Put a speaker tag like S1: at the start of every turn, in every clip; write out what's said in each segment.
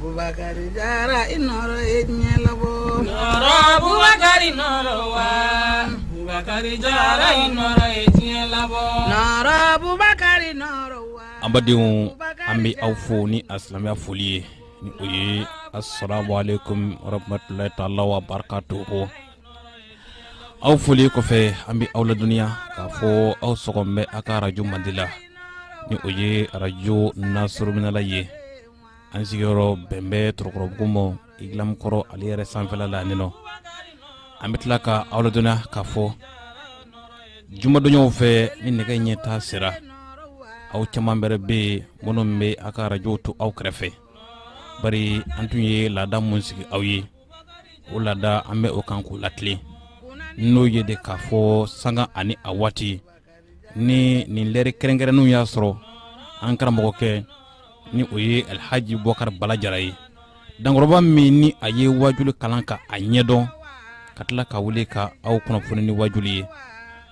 S1: Bubakari jara i nɔɔrɔ ye diɲɛ
S2: labɔ nɔɔrɔ bubakari nɔɔrɔ wa bubakari jara i nɔɔrɔ ye diɲɛ labɔ nɔɔrɔ
S1: bubakari nɔɔrɔ wa an
S3: badenw an bɛ aw fo ni a silamɛya foli ye ni o ye asalamu aleykum warahmatulahi taala wa barakatuhu aw foli kɔfɛ an bɛ aw ladɔnniya k'a fɔ aw sɔgɔn bɛ a ka arajo mandi la ni o ye arajo nasuruminala ye an sigiyɔrɔ bɛn bɛ tɔrɔkɔrɔbugu ma Igilamu kɔrɔ ale yɛrɛ sanfɛla la nin nɔ an bɛ tila ka aw ladɔnniya k'a fɔ jumadonyaw fɛ ni nɛgɛ ɲɛ tan sera aw caman bɛrɛ bɛ yen minnu bɛ aw ka arajow to aw kɛrɛfɛ bari an tun ye laada mun sigi aw ye o laada an bɛ o kan k'o latilen n'o ye de k'a fɔ sanga ani a waati ni nin lɛri kɛrɛnkɛrɛnnenw y'a sɔrɔ an karamɔgɔkɛ ni o ye alhaji bubakar bala jara ye dankɔrɔba min ni a ye wajuli kalan ka a ɲɛdɔn ka tila ka wuli ka aw kunnafoni ni wajuli ye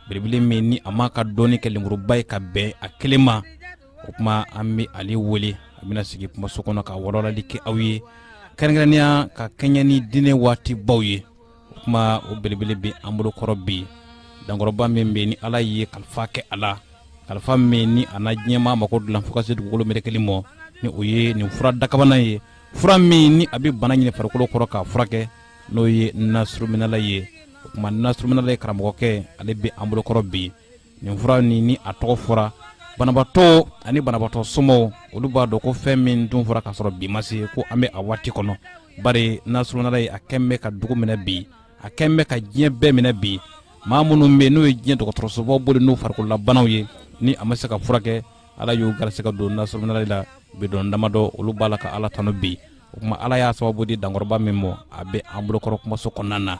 S3: belebele min ni a m'a ka dɔnni kɛ lenburuba ye ka bɛn a kelen ma o kuma an bɛ ale wele a bɛna sigi kumaso kɔnɔ ka walawalali kɛ aw ye kɛrɛnkɛrɛnnenya ka kɛɲɛ ni diinɛ waatibaw ye o kuma o belebele bɛ an bolokɔrɔ bi dankɔrɔba min bɛ ni ala ye kalifa kɛ a la kalifa min ni a na diɲɛmaa mago dilan fo ka se dugukolo merekeli mɔ ni o ye nin fura dakabana ye fura min ni a bɛ bana ɲini farikolo kɔrɔ k'a furakɛ n'o ye nasuruminala ye o kuma nasuruminala ye karamɔgɔkɛ ale bɛ an bolokɔrɔ bi nin fura nin ni a tɔgɔ fɔra banabatɔ ani banabatɔ somɔgɔw olu b'a dɔn ko fɛn min tun fɔra k'a sɔrɔ bi ma se ko an bɛ a waati kɔnɔ bari nasuruminala ye a kɛn bɛ ka dugu minɛ bi a kɛn bɛ ka diɲɛ bɛɛ minɛ bi maa minnu bɛ n'u ye diɲɛ dɔgɔtɔrɔsobaw boli n'u farikololabanaw ye ni a ma se ka furakɛ ala y'u garisɛgɛ don nasuruminala la bidɔn damadɔ olu b'a la ka ala tanu bi o kuma ala y'a sababu di dankɔrɔba min mɔ a bɛ an bolokɔrɔ kumaso kɔnɔna na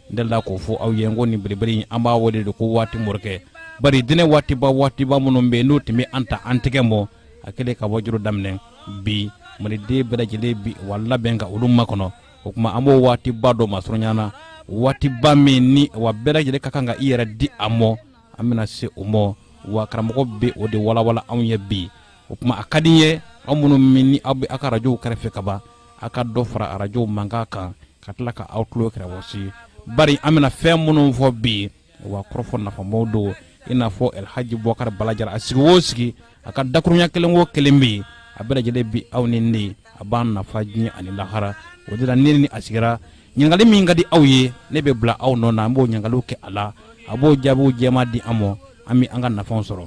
S3: n delila k'o fɔ aw ye n ko nin belebele in an b'a wele de ko waati morikɛ bari diinɛ waatiba waatiba minnu bɛ n'o tun bɛ an ta an tɛgɛ mɔ a kɛlen ka wajoro daminɛ bi maliden bɛɛ lajɛlen bi wa labɛn ka olu makɔnɔ o kuma an b'o waatiba dɔ masurunya na waatiba min ni wa bɛɛ lajɛlen ka kan ka i yɛrɛ di a mɔ an bɛna se o mɔ wa karamɔgɔ bɛ o de walawala anw ye bi o kuma a ka di n ye aw minnu min ni aw bɛ aw ka arajow kɛrɛfɛ ka ban aw ka dɔ fara arajow mankan kan ka tila ka aw tulo kɔrɔsi bari an bɛna fɛn minnu fɔ bi yen wa kɔrɔfɔ nafamaw don i n'a fɔ alhaji bubakari bala jara a sigi o sigi a ka dakurunya kelen o kelen bɛ yen a bɛɛ lajɛlen bi aw ni ne a b'an nafa diɲɛ ani lahara o de la ne ni a sigira ɲininkali min ka di aw ye ne bɛ bila aw nɔ na an b'o ɲininkaliw kɛ a la a b'o jaabiw jɛma di an ma an bɛ an ka nafaw sɔrɔ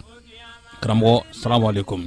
S3: karamɔgɔ salamu aleykum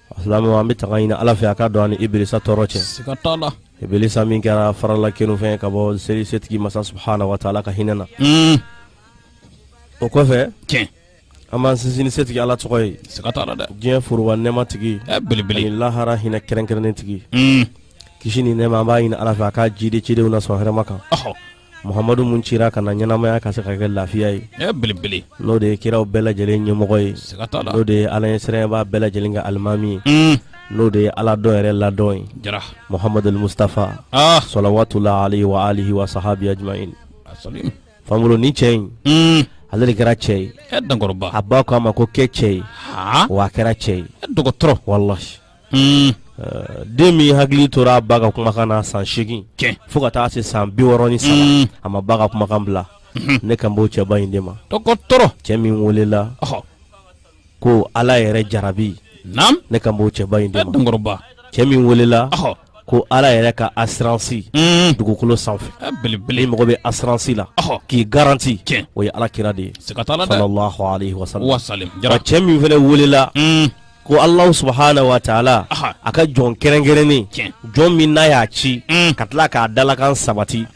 S3: Alisa an
S4: bɛ tanga ɲini ala fɛ a ka don an ni iblisa tɔɔrɔ
S3: cɛ iblisa min
S4: kɛra farala kɛfɛn ka bɔ seli setigi masa subhanahu wa ta'ala ka hinɛ na o kɔfɛ
S3: an b'an
S4: sinsin setigi ala tɔgɔ ye dɛ
S3: diɲɛ foroba nɛɛma
S4: tigi belebele
S3: lahara hinɛ
S4: kɛrɛnkɛrɛnnen tigi kisi ni nɛɛma an b'a ɲini ala fɛ a ka jidi cidenw na sɔn hɛrɛma kan Muhamadu min cira ka na ɲɛnamaya ka se ka kɛ lafiya ye belebele n'o de
S3: ye kiraw
S4: bɛɛ lajɛlen ɲɛmɔgɔ ye siga t'a la n'o de ye ala
S3: ɲɛsiranbaa
S4: bɛɛ lajɛlen ka alimami ye n'o de ye ala dɔn yɛrɛ ladɔn ye jara muhamadu mustafa salawatullah alayhi wa alihi wa sahabihi
S3: ajma'in fankolon ni
S4: cɛ in ale de kɛra cɛ ye a ba k'a
S3: ma ko kɛ
S4: cɛ ye wa a kɛra cɛ ye dɔgɔtɔrɔ wala den min hakili tora a ba ka kumakan na san segin fo ka taa se san biwɔɔrɔ ni saba a ma ba ka kumakan bila ne kan b'o cɛba in de ma dɔgɔtɔrɔ cɛ
S3: min
S4: welela ko ala yɛrɛ jarabi ne kan b'o cɛba in de ma cɛ min
S3: welela
S4: ko ala yɛrɛ ka asuransi dugukolo sanfɛ belebele mɔgɔ bɛ asuransi la k'i garanti o ye ala kira de ye sa cɛ min fana welela ko allahu subhanahu wa ta'ala a ka jɔn kɛrɛnkɛrɛnnen jɔn min n'a y'a ci ka tila k'a dalakan sabati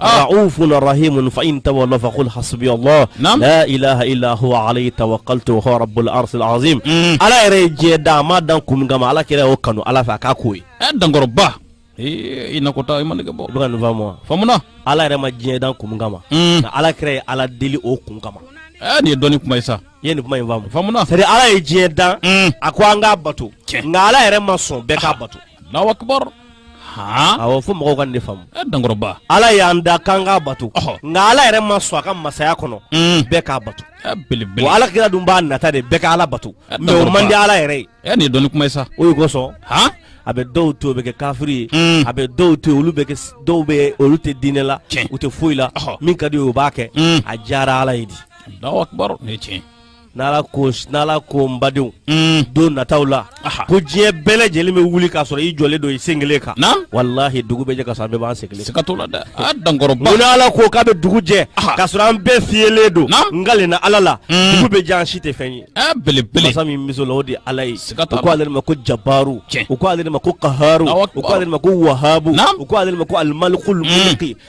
S4: Ah. Raufun rahimun fa in tawallaw fa qul hasbi Allah la ilaha illa huwa alayhi tawakkaltu huwa rabbul arshil azim mm. Ala yɛrɛ ye diɲɛ dan a m'a dan kun kama Ala kira y'o kanu Ala fɛ a k'a k'o ye ɛ eh, dankɔrɔba
S3: i nakɔta i ma nege bɔ i bɛ ka nin faamu
S4: wa faamuna Ala yɛrɛ
S3: ma
S4: diɲɛ dan kun kama mm. nka Ala kira ye Ala deli o kun kama ɛ eh, nin ye dɔnni
S3: kuma ye sa i ye nin kuma in faamu faamuna
S4: c'est à dire Ala ye
S3: diɲɛ
S4: dan mm. a ko an k'a bato nka Ala yɛrɛ ma sɔn bɛɛ k'a bato Allahu akbar fo mɔgɔw ka nin de faamu dankɔrɔba
S3: ala y'an dan
S4: k'an k'a bato nka ala yɛrɛ ma sɔn a ka masaya kɔnɔ mm. bɛɛ k'a bato ala kira
S3: dun b'a
S4: nata de bɛɛ ka ala bato mais o man di ala yɛrɛ ye nin ye dɔnni kuma ye
S3: sa o de
S4: kosɔn a bɛ dɔw to o bɛ kɛ kafiri ye mm. a bɛ dɔw to olu bɛ dɔw bɛ olu tɛ diinɛ la u tɛ foyi la min ka di o b'a kɛ mm. a diyara ala ye di
S3: n'ala ko
S4: n'ala ko n badenw mm. don nataw la ko diɲɛ bɛɛ lajɛlen bɛ wuli k'a sɔrɔ i jɔlen don i sen kelen kan walahi dugu bɛ jɛ ka sɔrɔ an bɛɛ b'an sen kelen siga t'o la dɛ a
S3: dankɔrɔba mun n'ala ko k'a
S4: bɛ dugu jɛ k'a sɔrɔ an bɛɛ fiyelen don n kalenna ala la mm. dugu bɛ jɛ an si tɛ fɛn ye belebele masa min
S3: miso la o de
S4: ye ala ye u ko ale de ma ko jabaru u ko ale de ma ko kaharu u ko ale de ma ko wahabu u ko ale de ma ko alimalikul mm. mulki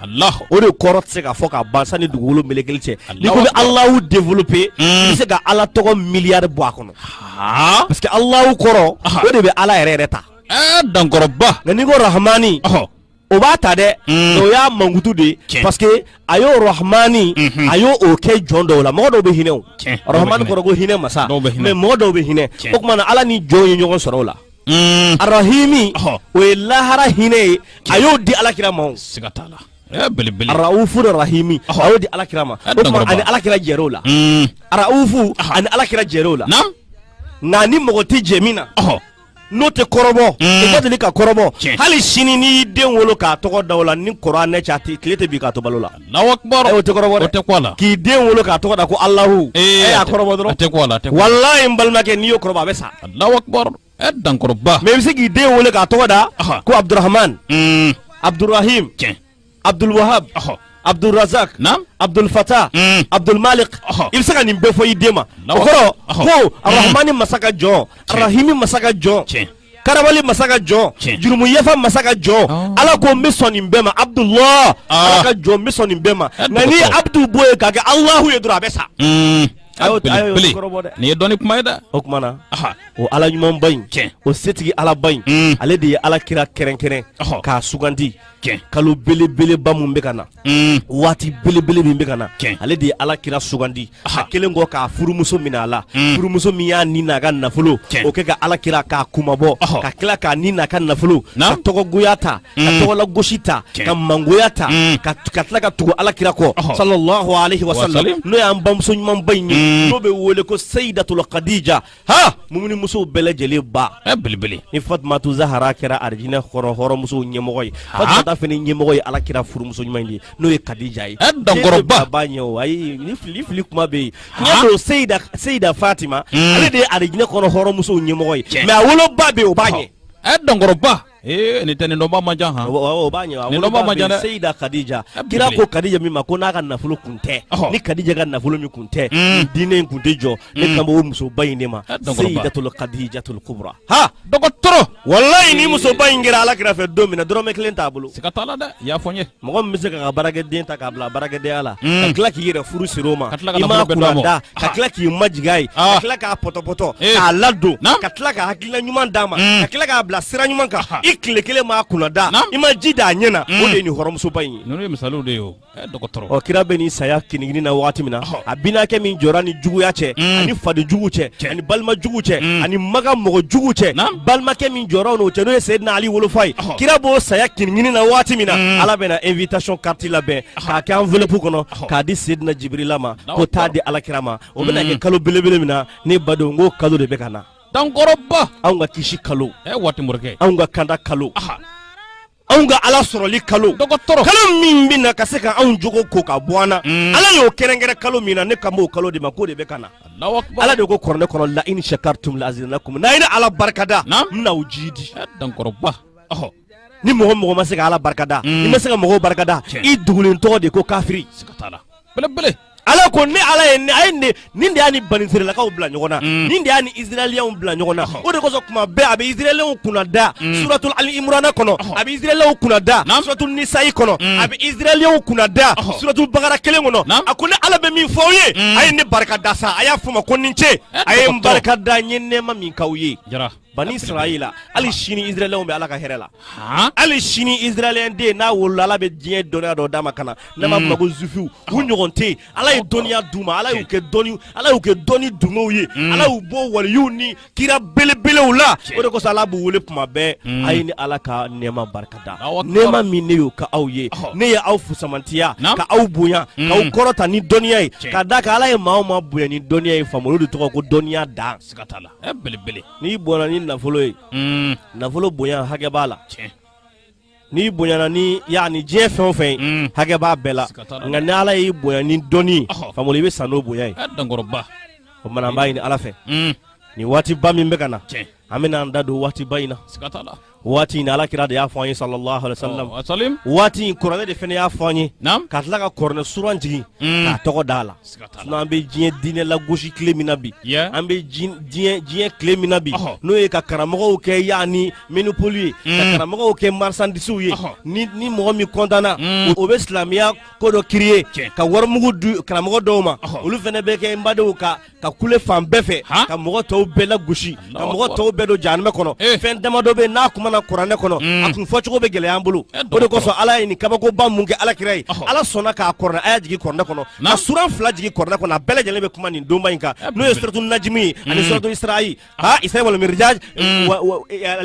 S4: A o de kɔrɔ tɛ se ka fɔ ka ban san ni dugukolo mɛlɛkɛw cɛ n'i ko i bɛ allahu développer i bɛ se ka ala tɔgɔ miliyari bɔ a kɔnɔ parce que allahu kɔrɔ o de bɛ ala yɛrɛ yɛrɛ ta dankɔrɔba nka n'i ko rahmani o b'a ta dɛ mm. o y'a mankutu de ye parce que a y'o rahmani mm-hmm. a y'o kɛ jɔn dɔw la mɔgɔ dɔw bɛ hinɛ o rahmani kɔrɔ ko hinɛ masa mais mɔgɔ dɔw bɛ hinɛ o tuma na ala ni jɔn ye ɲɔgɔn sɔrɔ o la mm. arahimi oh. o ye lahara hinɛ ye a y'o di alakira ma siga t'a
S3: la araufu
S4: ni rahimi oh. a y'o di alakira ma o tuma a ni alakira jɛra o la mm. araufu oh. a ni alakira jɛra o la nka ni mɔgɔ tɛ jɛ min na oh. n'o tɛ kɔrɔbɔ mm. i ka deli ka kɔrɔbɔ hali sini n'i y'i den wolo k'a tɔgɔ da o la ni kɔrɔ anɛ cɛ a tɛ tile tɛ bin k'a to balo la Alahu akubaru o tɛ kɔrɔbɔ o tɛ ko la k'i den wolo k'a tɔgɔ da ko alahu e y'a kɔrɔbɔ dɔrɔn tɛ ko la walayi n balimakɛ n'i y'o kɔrɔbɔ a bɛ sa alahu
S3: akubaru dankɔrɔba mais i bɛ se k'i
S4: den wolo k'a tɔgɔ da ko abudurahamani abudurahimi cɛ abuduluwahabu abudurazaki abudulufata abudulmalik i bɛ se ka nin bɛɛ fɔ i den ma o kɔrɔ ko arahamani masa ka jɔn arahimi masa ka jɔn cɛ Karabali masa ka jɔn jurumu yafa masa ka jɔn oh. ala ko n bɛ sɔn nin bɛɛ ma abudulahi ala ka jɔn n bɛ sɔn nin bɛɛ ma nka n'i ye abudu bɔ yen k'a kɛ alahu ye dɔrɔn a bɛ sa
S3: hmm. nin ye dɔnni kuma ye dɛ o tuma
S4: na o ala ɲumanba in o setigi alaba in hmm. ale de ye ala kira kɛrɛnkɛrɛn k'a sugandi kalo belebeleba min bɛ ka na waati belebele min bɛ ka na ale de ye ala kira sugandi a kelen kɔ k'a furumuso minɛ a la furumuso min y'a ni n'a ka nafolo o kɛ ka ala kira k'a kunmabɔ ka tila k'a ni n'a ka nafolo ka tɔgɔgoya ta ka tɔgɔla gosi ta ka mangoya ta ka tila ka tugu ala kira kɔ salalahu alayihi wa salamu n'o y'an bamuso ɲumanba in ye n'o bɛ wele ko seyidatul kadija Ha mumuni musow bɛɛ lajɛlen ba belebele
S3: ni
S4: fatumatu zahara kɛra arijinɛ kɔnɔ hɔrɔnmusow ɲɛmɔgɔ ye fata fana ɲɛmɔgɔ ye ala kira furumuso ɲuman in ye n'o ye kadija ye dankɔrɔba ba b'a
S3: ɲɛ
S4: ayi ni fili fili kuma bɛ yen seyi seyida fatima ale de ye arijinɛ kɔnɔ hɔrɔnmusow ɲɛmɔgɔ ye mais a woloba bɛ yen o b'a ɲɛ a ye dankɔrɔba
S3: Eh, ni tɛ nin dɔnbaa man ca han o b'a ɲɛ nin
S4: dɔnbaa man ca dɛ seyida kadija kira ko kadija min ma ko n'a ka nafolo kun tɛ ni kadija ka nafolo min kun tɛ hmm. diinɛ in kun tɛ jɔ ne hmm. kan b'o musoba in de ma seyidatul kadijatul kubra ha dɔgɔtɔrɔ
S3: walayi ni
S4: musoba in kɛra ala kira fɛ don min na dɔrɔmɛ kelen t'a bolo siga t'a la dɛ i y'a fɔ n ye
S3: mɔgɔ min bɛ se k'a ka
S4: baarakɛden ta k'a bila baarakɛdenya la mm. ka tila k'i yɛrɛ furu siri o ma i m'a kunna da ka tila k'i majigin a ye ka ah. tila k'a pɔtɔpɔtɔ eh. k'a ladon ka tila ka hakilina ɲuman d'a ma mm. ka tila k'a bila sira ɲuman kan i tile kelen m'a kunna da i ma ji d'a ɲɛ na mm. o de ye nin hɔrɔmusoba in ye ninnu ye misaliw de ye
S3: o eh, dɔgɔtɔrɔ ɔ kira bɛ nin saya
S4: kinigini na wagati min na a binakɛ min jɔr'a ni juguya cɛ ani faden jugu cɛ ani balima jugu cɛ mm. ani maga mɔgɔ jugu cɛ balimakɛ min jɔr'a n'o cɛ n'o ye seyidina ali wolofa ye kira b'o saya kinigini na waati min na mm. ala bɛna invitation carte labɛn k'a kɛ enveloppe kɔnɔ k'a di seyidina jibirila ma ko taa di alakira ma o bɛna mm. kɛ kalo belebele min na ne badenw n k'o kalo de bɛ ka na dankɔrɔba
S3: anw ka kisi
S4: kalo eh, waati morikɛ anw
S3: ka kanda kalo
S4: anw ka ala sɔrɔli kalo dɔgɔtɔrɔ kalo min bɛ na ka se ka anw jogo ko ka bɔ an na mm. ala y'o kɛrɛnkɛrɛn kalo min na ne kan b'o kalo de ma k'o de bɛ ka na ala de ko kuranɛ kɔnɔ la in shakartum la azidannakum n'a ye ne ala barikada n bɛna o ji di eh,
S3: dankɔrɔba ɔhɔ
S4: ni mɔgɔ mɔgɔ ma se ka ala barikada mm. i ma se ka mɔgɔw barikada i dugulen tɔgɔ de ko kafiri siga t'a la
S3: belebele Ala ko
S4: ne ala ye a ye nin de y'a ni banisirayilakaw bila ɲɔgɔn na nin de y'a ni israɛliyɛnw bila ɲɔgɔn na o de kosɔn tuma bɛɛ a bɛ israɛliyɛnw kunna da suratu ali imrana kɔnɔ a bɛ israɛliyɛnw kunna da suratu nisayi kɔnɔ a bɛ israɛliyɛnw kunna da suratu bakara kelen kɔnɔ a ko ne ala bɛ min fɔ aw ye a ye ne barika da sa a y'a fɔ n ma ko ni ce a ye n barika da n ye nɛɛma min k'aw ye bani israyila hali sini israɛliyɛnw bɛ ala ka hɛrɛ la hali sini israɛliyɛn den n'a wolola ala bɛ diɲɛ dɔnniya dɔ d'a ma ka na n'a ma fɔ ko zufiw u ɲɔgɔn tɛ yen ala ye dɔnniya d'u ma ala y'u kɛ dɔnni ala y'u kɛ dɔnni dungew ye ala y'u bɔ waliyuw ni kira belebelew la o de kosɔn ala b'u wele tuma bɛɛ a ye ne ala ka nɛɛma barika da nɛɛma min ne y'o kɛ aw ye ne ye aw fusamantiya ka aw bonya k'aw kɔrɔta ni dɔnniya ye ka d'a kan ala ye maa o maa bonya ni dɔnniya ye faama olu de tɔgɔ ko dɔnniya dan siga t'a la Eh,
S3: belebele n'i bonyana
S4: ni nafolo ye mm. nafolo bonya hakɛ b'a la n'i bonyana ni yani diɲɛ fɛn o fɛn ye mm. hakɛ b'a bɛɛ la nka ni ala y'i bonya ni dɔnni famolo i bɛ sa n'o bonya ye dankɔrɔba
S3: o tuma na an
S4: b'a ɲini ala fɛ mm. nin waatiba min bɛ ka na an bɛna an da don waatiba in na
S3: waati in ala kira de
S4: y'a fɔ an ye sallallahu alaihi wasallam ɔ, wasalim waati in kuranɛ de fana y'a fɔ an ye naam ka tila ka kuranɛ suran jigin Mm. k'a tɔgɔ d'a la Siga t'a la. sinon an bɛ diɲɛ diinɛ lagosi tile min na bi Yeah. an bɛ jin- diɲɛ diɲɛ tile min na bi Ɔhɔ. n'o ye ka karamɔgɔw kɛ yani monopoli ye ka Mm. karamɔgɔw kɛ marisandisiw ye Ɔhɔ. ni ni mɔgɔ min kɔntanna Mm. o o bɛ silamɛya ko dɔ kiriye Tiɲɛ. ka warimugu di karamɔgɔ dɔw ma Ɔhɔ. olu fana bɛ kɛ n badenw ka ka kule fan bɛɛ fɛ ka mɔgɔ tɔw bɛɛ lagosi ka mɔgɔ tɔw bɛɛ don jahanamɛ kɔnɔ eh. fɛn damadɔ bɛ n'a kumana kuranɛ kɔnɔ mm. a kun fɔcogo bɛ gɛlɛya an bolo eh, o de kosɔn ala ye nin kabakoba mun kɛ ala kira ye ala sɔnna k'a kɔrɔnɛ a y'a jigin kɔrɔnɛ kɔnɔ ka suran fila jigin kɔrɔnɛ kɔnɔ a bɛɛ lajɛlen bɛ kuma nin donba in kan eh, n'o ye suratu najimi ye ani mm. suratu isra'i Ah, al isra'i wal miraj mm.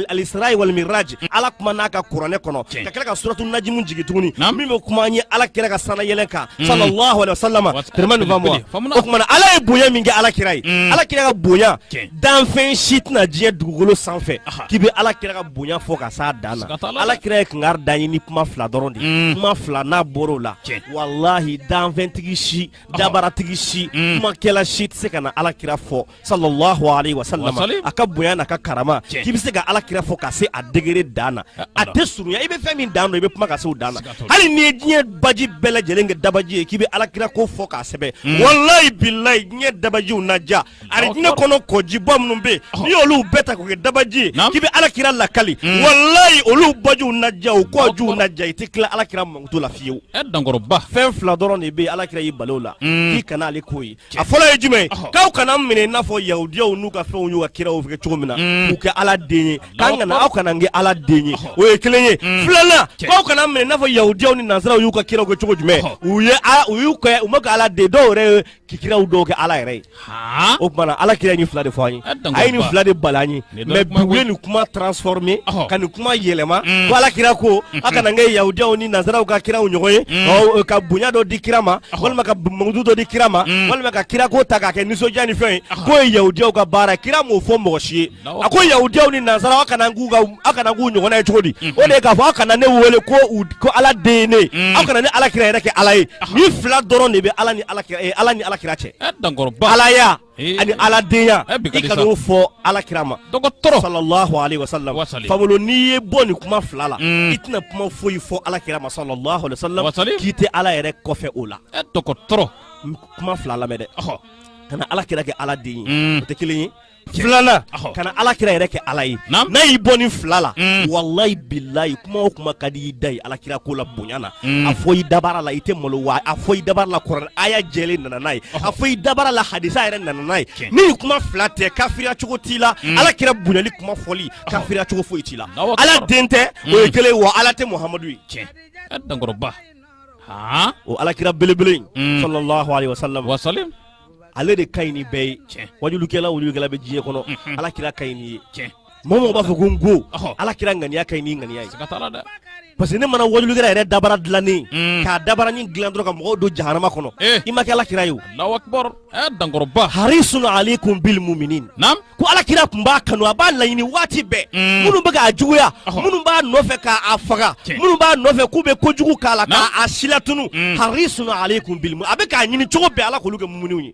S4: al isra'i wal miraj mm. ala kumana a ka kuranɛ kɔnɔ ka tila ka suratu najimi jigin tuguni min bɛ kuma an ye ala kira ka sanna yɛlɛ kan mm. sallallahu alaihi wasallam tɛrɛma nin faamu o tuma na ala ye bonya min kɛ ala kira ye ala kira ka bonya danfɛn si tɛna diɲɛ dugukolo sanfɛ k'i bɛ ala kira ka bonya fɔ ka s'a dan na ala kira ye kankari d'an ye ni kuma fila dɔrɔn de ye kuma fila n'a bɔr'o la walahi danfɛntigi si dabaratigi si kumakɛla si tɛ se ka na ala kira fɔ sallallahu alaihi wasallam a ka bonya n'a ka karama k'i bɛ se ka ala kira fɔ ka se a degere dan na a tɛ surunya i bɛ fɛn min dan dɔn i bɛ kuma ka se o dan na hali n'i ye diɲɛ baji bɛɛ lajɛlen kɛ dabaji ye k'i bɛ ala kira ko fɔ k'a sɛbɛn hmm. walayi bilayi diɲɛ dabajiw na ja ani diɲɛ kɔnɔ kɔjiba minnu bɛ yen oh. n'i y'olu bɛɛ ta k'o kɛ dabaji ye k'i bɛ ala kira lakali hmm. walayi olu bajiw na ja o kɔjiw na ja i tɛ tila ala kira mankutu la fiyewu fɛn fila dɔrɔn de bɛ yen ala kira y'i bali o la hmm. k'i kana ale k'o ye a fɔlɔ ye jumɛn k'aw kana minɛ i n'a fɔ yahudiyaw n'u ka fɛnw y'u ka kiraw kɛ cogo min na mm. k'u kɛ ala den ye k'an kana aw kana kɛ ala den ye o ye kelen ye mm. filanan k'aw kana minɛ i n'a fɔ yahudiyaw ni nansaraw y'u ka kiraw kɛ cogo jumɛn u ye u y'u kɛ u ma kɛ ala den dɔw yɛrɛ ye kiraw dɔw kɛ ala yɛrɛ ye o tuma ala kira ye nin fila de fɔ an ye a ye nin fila de bali an ye mais u ye nin kuma transformé ka nin kuma yɛlɛma mm. ko ala kira ko mm-hmm. a kana kɛ yahudiyaw ni nansaraw ka kiraw ɲɔgɔn ye mm. ka bonya dɔ di kira ma walima ka mankutu dɔ di kira ma mm. walima ka kira ko ta k'a kɛ nisɔndiya ni fɛn ye k'o ye yahudiyaw ka baara kira m'o fɔ mɔgɔ si ye a ko yahudiyaw ni nansaraw aw kana k'u aw kana k'u ɲɔgɔnna ye cogo di mm-hmm. o de ye k'a fɔ aw kana ne wele ko u ko ala den ye ne aw kana ne ala kira yɛrɛ kɛ ala ye nin fila dɔrɔn de bɛ ala ni ala kira eh, ala ni ala kira cɛ alaya Eh. ani aladenya eh, i kan'o fɔ ala kira ma dɔgɔtɔrɔ sallallahu alaihi wasallam fabolo n'i y'i bɔ nin kuma fila la mm. i tɛna kuma foyi fɔ ala kira ma sallallahu alaihi wasallam k'i tɛ ala yɛrɛ kɔfɛ o la eh, dɔgɔtɔrɔ kuma fila lamɛn dɛ kana ala kira kɛ ala den ye mm. o tɛ kelen ye filanan kana ala kira yɛrɛ kɛ ala ye n'a y'i bɔ nin fila la mm. walayi bilayi kuma o kuma ka di i da ye alakira ko la bonya na a fɔ i dabara la i tɛ malo wa a fɔ i dabara la kuranɛ aya jɛlen nana n'a ye a fɔ i dabara la hadisa yɛrɛ nana n'a ye ni nin kuma fila tɛ kafiriya cogo t'i la alakira bonyali kuma fɔli kafiriya cogo foyi t'i la ala den tɛ o ye kelen wa ala tɛ muhamadu ye tiɲɛ dankɔrɔba o alakira belebele in sallallahu alaihi wasallam wasallam ale de ka ɲi ni bɛɛ ye tiɲɛ wajulukɛla o wajulukɛla bɛ diɲɛ kɔnɔ alakira ka ɲi n'i ye tiɲɛ mɔgɔ b'a fɔ ko n go ala kira ŋaniya ka ɲi n'i ŋaniya ye parce que ne mana wajulukɛla yɛrɛ dabara dilannen mm. k'a dabaranin dilan dɔrɔn ka mɔgɔw don jahanama kɔnɔ eh. i ma kɛ ala kira ye o eh, dankɔrɔba harisun alaykum bil muminin ko ala kira tun b'a kanu a b'a laɲini waati bɛɛ mm. minnu bɛ k'a juguya minnu b'a nɔfɛ k'a faga minnu b'a nɔfɛ k'u bɛ kojugu k'a la k'a silatunu mm. harisun alaykum bil a bɛ k'a ɲini cogo bɛɛ ala k'olu kɛ muminiw ye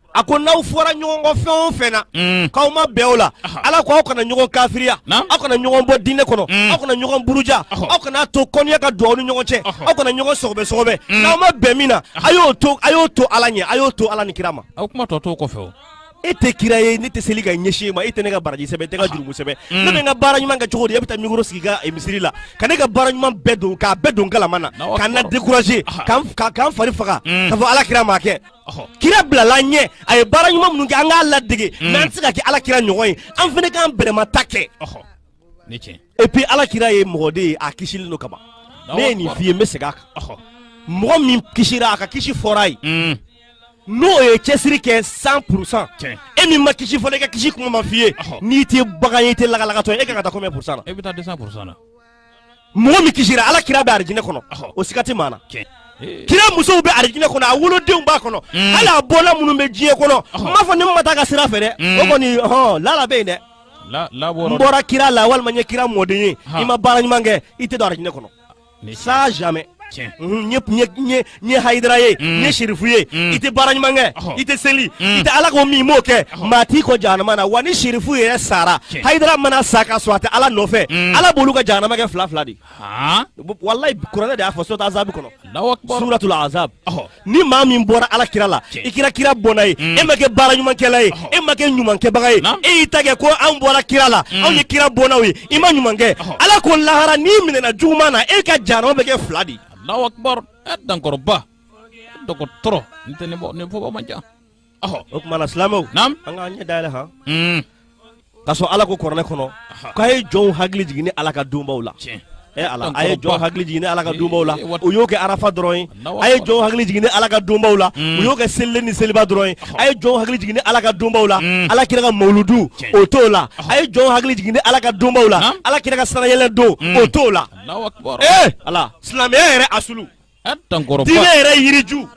S4: A ko n'aw fɔra ɲɔgɔn kɔ fɛn o fɛn na k'aw ma bɛn o la ala ko aw kana ɲɔgɔn kafiriya aw kana ɲɔgɔn bɔ diinɛ kɔnɔ aw kana ɲɔgɔn buruja aw kana to kɔniya ka don aw ni ɲɔgɔn cɛ aw kana ɲɔgɔn sɔgɔbɛsɔgɔbɛ n'aw ma bɛn min na a y'o to a y'o to ala ɲɛ a y'o to ala ni kira ma aw kuma tɔ t'o kɔfɛ e tɛ kira ye ne tɛ seli ka ɲɛsin e ma e tɛ ne ka baraji sɛbɛn e tɛ n ka jurumu sɛbɛn ne bɛ n ka baara ɲuman kɛ cogo di e bɛ taa micro sigi i ka misiri la ka ne ka baara ɲuman bɛɛ don k'a bɛɛ don galama na ka na décourager k'an fari faga k'a fɔ ala kira m'a kɛ Kira bilala ɲɛ a ye baara ɲuman minnu kɛ an k'a ladege mais an tɛ se ka kɛ ala kira ɲɔgɔn ye an fana k'an bɛrɛma ta kɛ et puis ala kira ye mɔgɔ de ye a kisilen don kaban ne ye nin f'i ye n bɛ segin a kan mɔgɔ min kisira a ka kisi fɔra a ye mm. n'o ye cɛsiri kɛ cent pourcent e min ma kisi fɔlɔ e ka kisi kuma ma f'i ye n'i tɛ bagan ye i tɛ lagalagatɔ ye e ka kan ka taa combien pourcent na e bɛ taa deux cents pourcent na mɔgɔ min kisira ala kira bɛ arijinɛ kɔnɔ o siga tɛ maa na kira musow bɛ arijinɛ kɔnɔ a wolodenw b'a kɔnɔ mm. hali a bɔnna minnu bɛ diɲɛ kɔnɔ n m'a fɔ ni maa ma taa a ka sira fɛ dɛ mm. o kɔni hɔn lala bɛ yen dɛ n bɔra kira la walima n ye kira mɔden ye i ma baara ɲuman kɛ i tɛ don arijinɛ kɔnɔ ça jamais ne ye hayidara ye mm. ne ye sirifu ye mm. i tɛ baara ɲuman kɛ i tɛ seli mm. i tɛ ala ko min m'o kɛ maa t'i kɔn jahanama na wa ni sirifu yɛrɛ sara hayidara mana sa ka sɔrɔ a tɛ ala nɔfɛ ala b'olu ka jahanama kɛ fila fila de walayi kuranɛ de y'a fɔ suratul azab kɔnɔ suratul azab ni maa min bɔra ala kira la i kɛra kira bɔnna ye mm. e ma kɛ baara ɲumankɛla ye e ma kɛ ɲumankɛbaga ye e y'i ta kɛ ko an bɔra kira la mm. anw ye kira bɔnnaw ye i ma ɲuman kɛ ala ko lahara n'i minɛna juguman na e ka jahanama bɛ kɛ fila de
S3: ye dankɔrɔba dɔgɔtɔrɔ nin tɛ nin fɔba man ca ɔhɔ o kuma
S4: na silamɛw naam an k'an ɲɛ
S3: dayɛlɛ
S4: han Hmm. ka sɔrɔ ala ko kuranɛ kɔnɔ k'a ye jɔnw hakili jigin ni ala ka donbaw la tiɲɛ ɛ ala a ye jɔnw hakili jigin ni ala ka donbaw la Eh, o y'o kɛ arafa dɔrɔn ye Allahu a ye Akbar. jɔnw hakili jigin ni ala ka donbaw la Mm. o y'o kɛ selilen ni seliba dɔrɔn ye a ye jɔnw hakili jigin ni ala ka donbaw la Mm. ala kira ka mawuludu Tiɲɛ. o t'o la a ye jɔnw hakili jigin ni ala ka donbaw la Naam. ala kira ka sanayɛlɛ don Mm. o t'o la Allahu Akbar. ee ala silamɛya yɛrɛ asulu yɛrɛ yiriju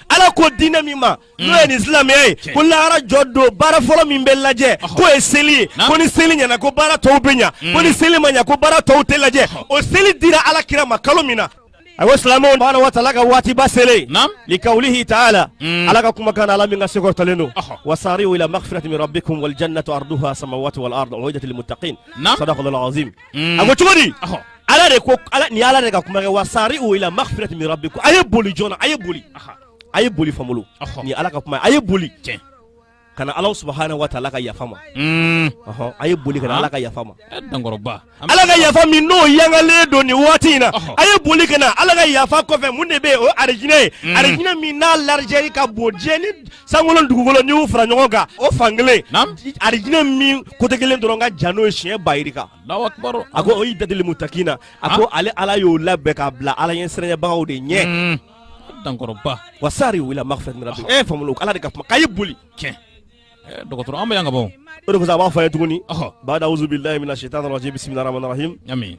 S4: ala ko diinɛ min ma n'o ye nin silamɛya ye ko lahara jɔ don baara fɔlɔ min bɛ lajɛ k'o ye seli ye ko ni seli ɲɛna ko baara tɔw bɛ ɲa ko ni seli ma ɲa ko baara tɔw tɛ lajɛ o seli dira ala kira ma kalo min na a ko silamɛw subahana wa taala ka waatiba selen li kawlihi taala ala ka kumakan ala min ka se kɔrɔtalen don wasari'u ila magfirati min rabbikum wal jannatu arduha samawati wal ard uiddat lil muttaqin sadaqallahu azim mm. a ko cogo di ala de ko ni ala de ka kuma kɛ wasari'u ila maghfirati min rabbikum a ye boli joona a ye boli a ye boli famolo ni ala ka kuma a ye boli tiɲɛ ka na ala subahana wa taala ka yafa ma mm. a ye boli ka na ala ka yafa ma eh, dankɔrɔba ala ka yafa min n'o yangalen don nin waati in na a ye boli ka na ala ka yafa kɔfɛ mun de bɛ yen o ye arijinɛ ye mm. arijinɛ min n'a largeur ka bon diɲɛ ni sankolo dugukolo n'i y'u fara ɲɔgɔn kan o fan kelen arijinɛ min kote kelen dɔrɔn ka jan n'o ye siɲɛ bayirika a ko u'idat lil mutakina a ko ale ala y'o labɛn k'a bila ala ɲɛ siranyɛbagaw de ɲɛ hmm. dankɔrɔba wa sari'u ila magfiratin min rabikum famulo ala de ka kuma k'a ye boli tiɲɛ eh,
S3: dɔgɔtɔrɔ an bɛ yan ka bɔ o de kosɔn a b'a fɔ an ye tuguni
S4: bada awuzu bilahi mina sitani rajim bisimilahi rahmani rahim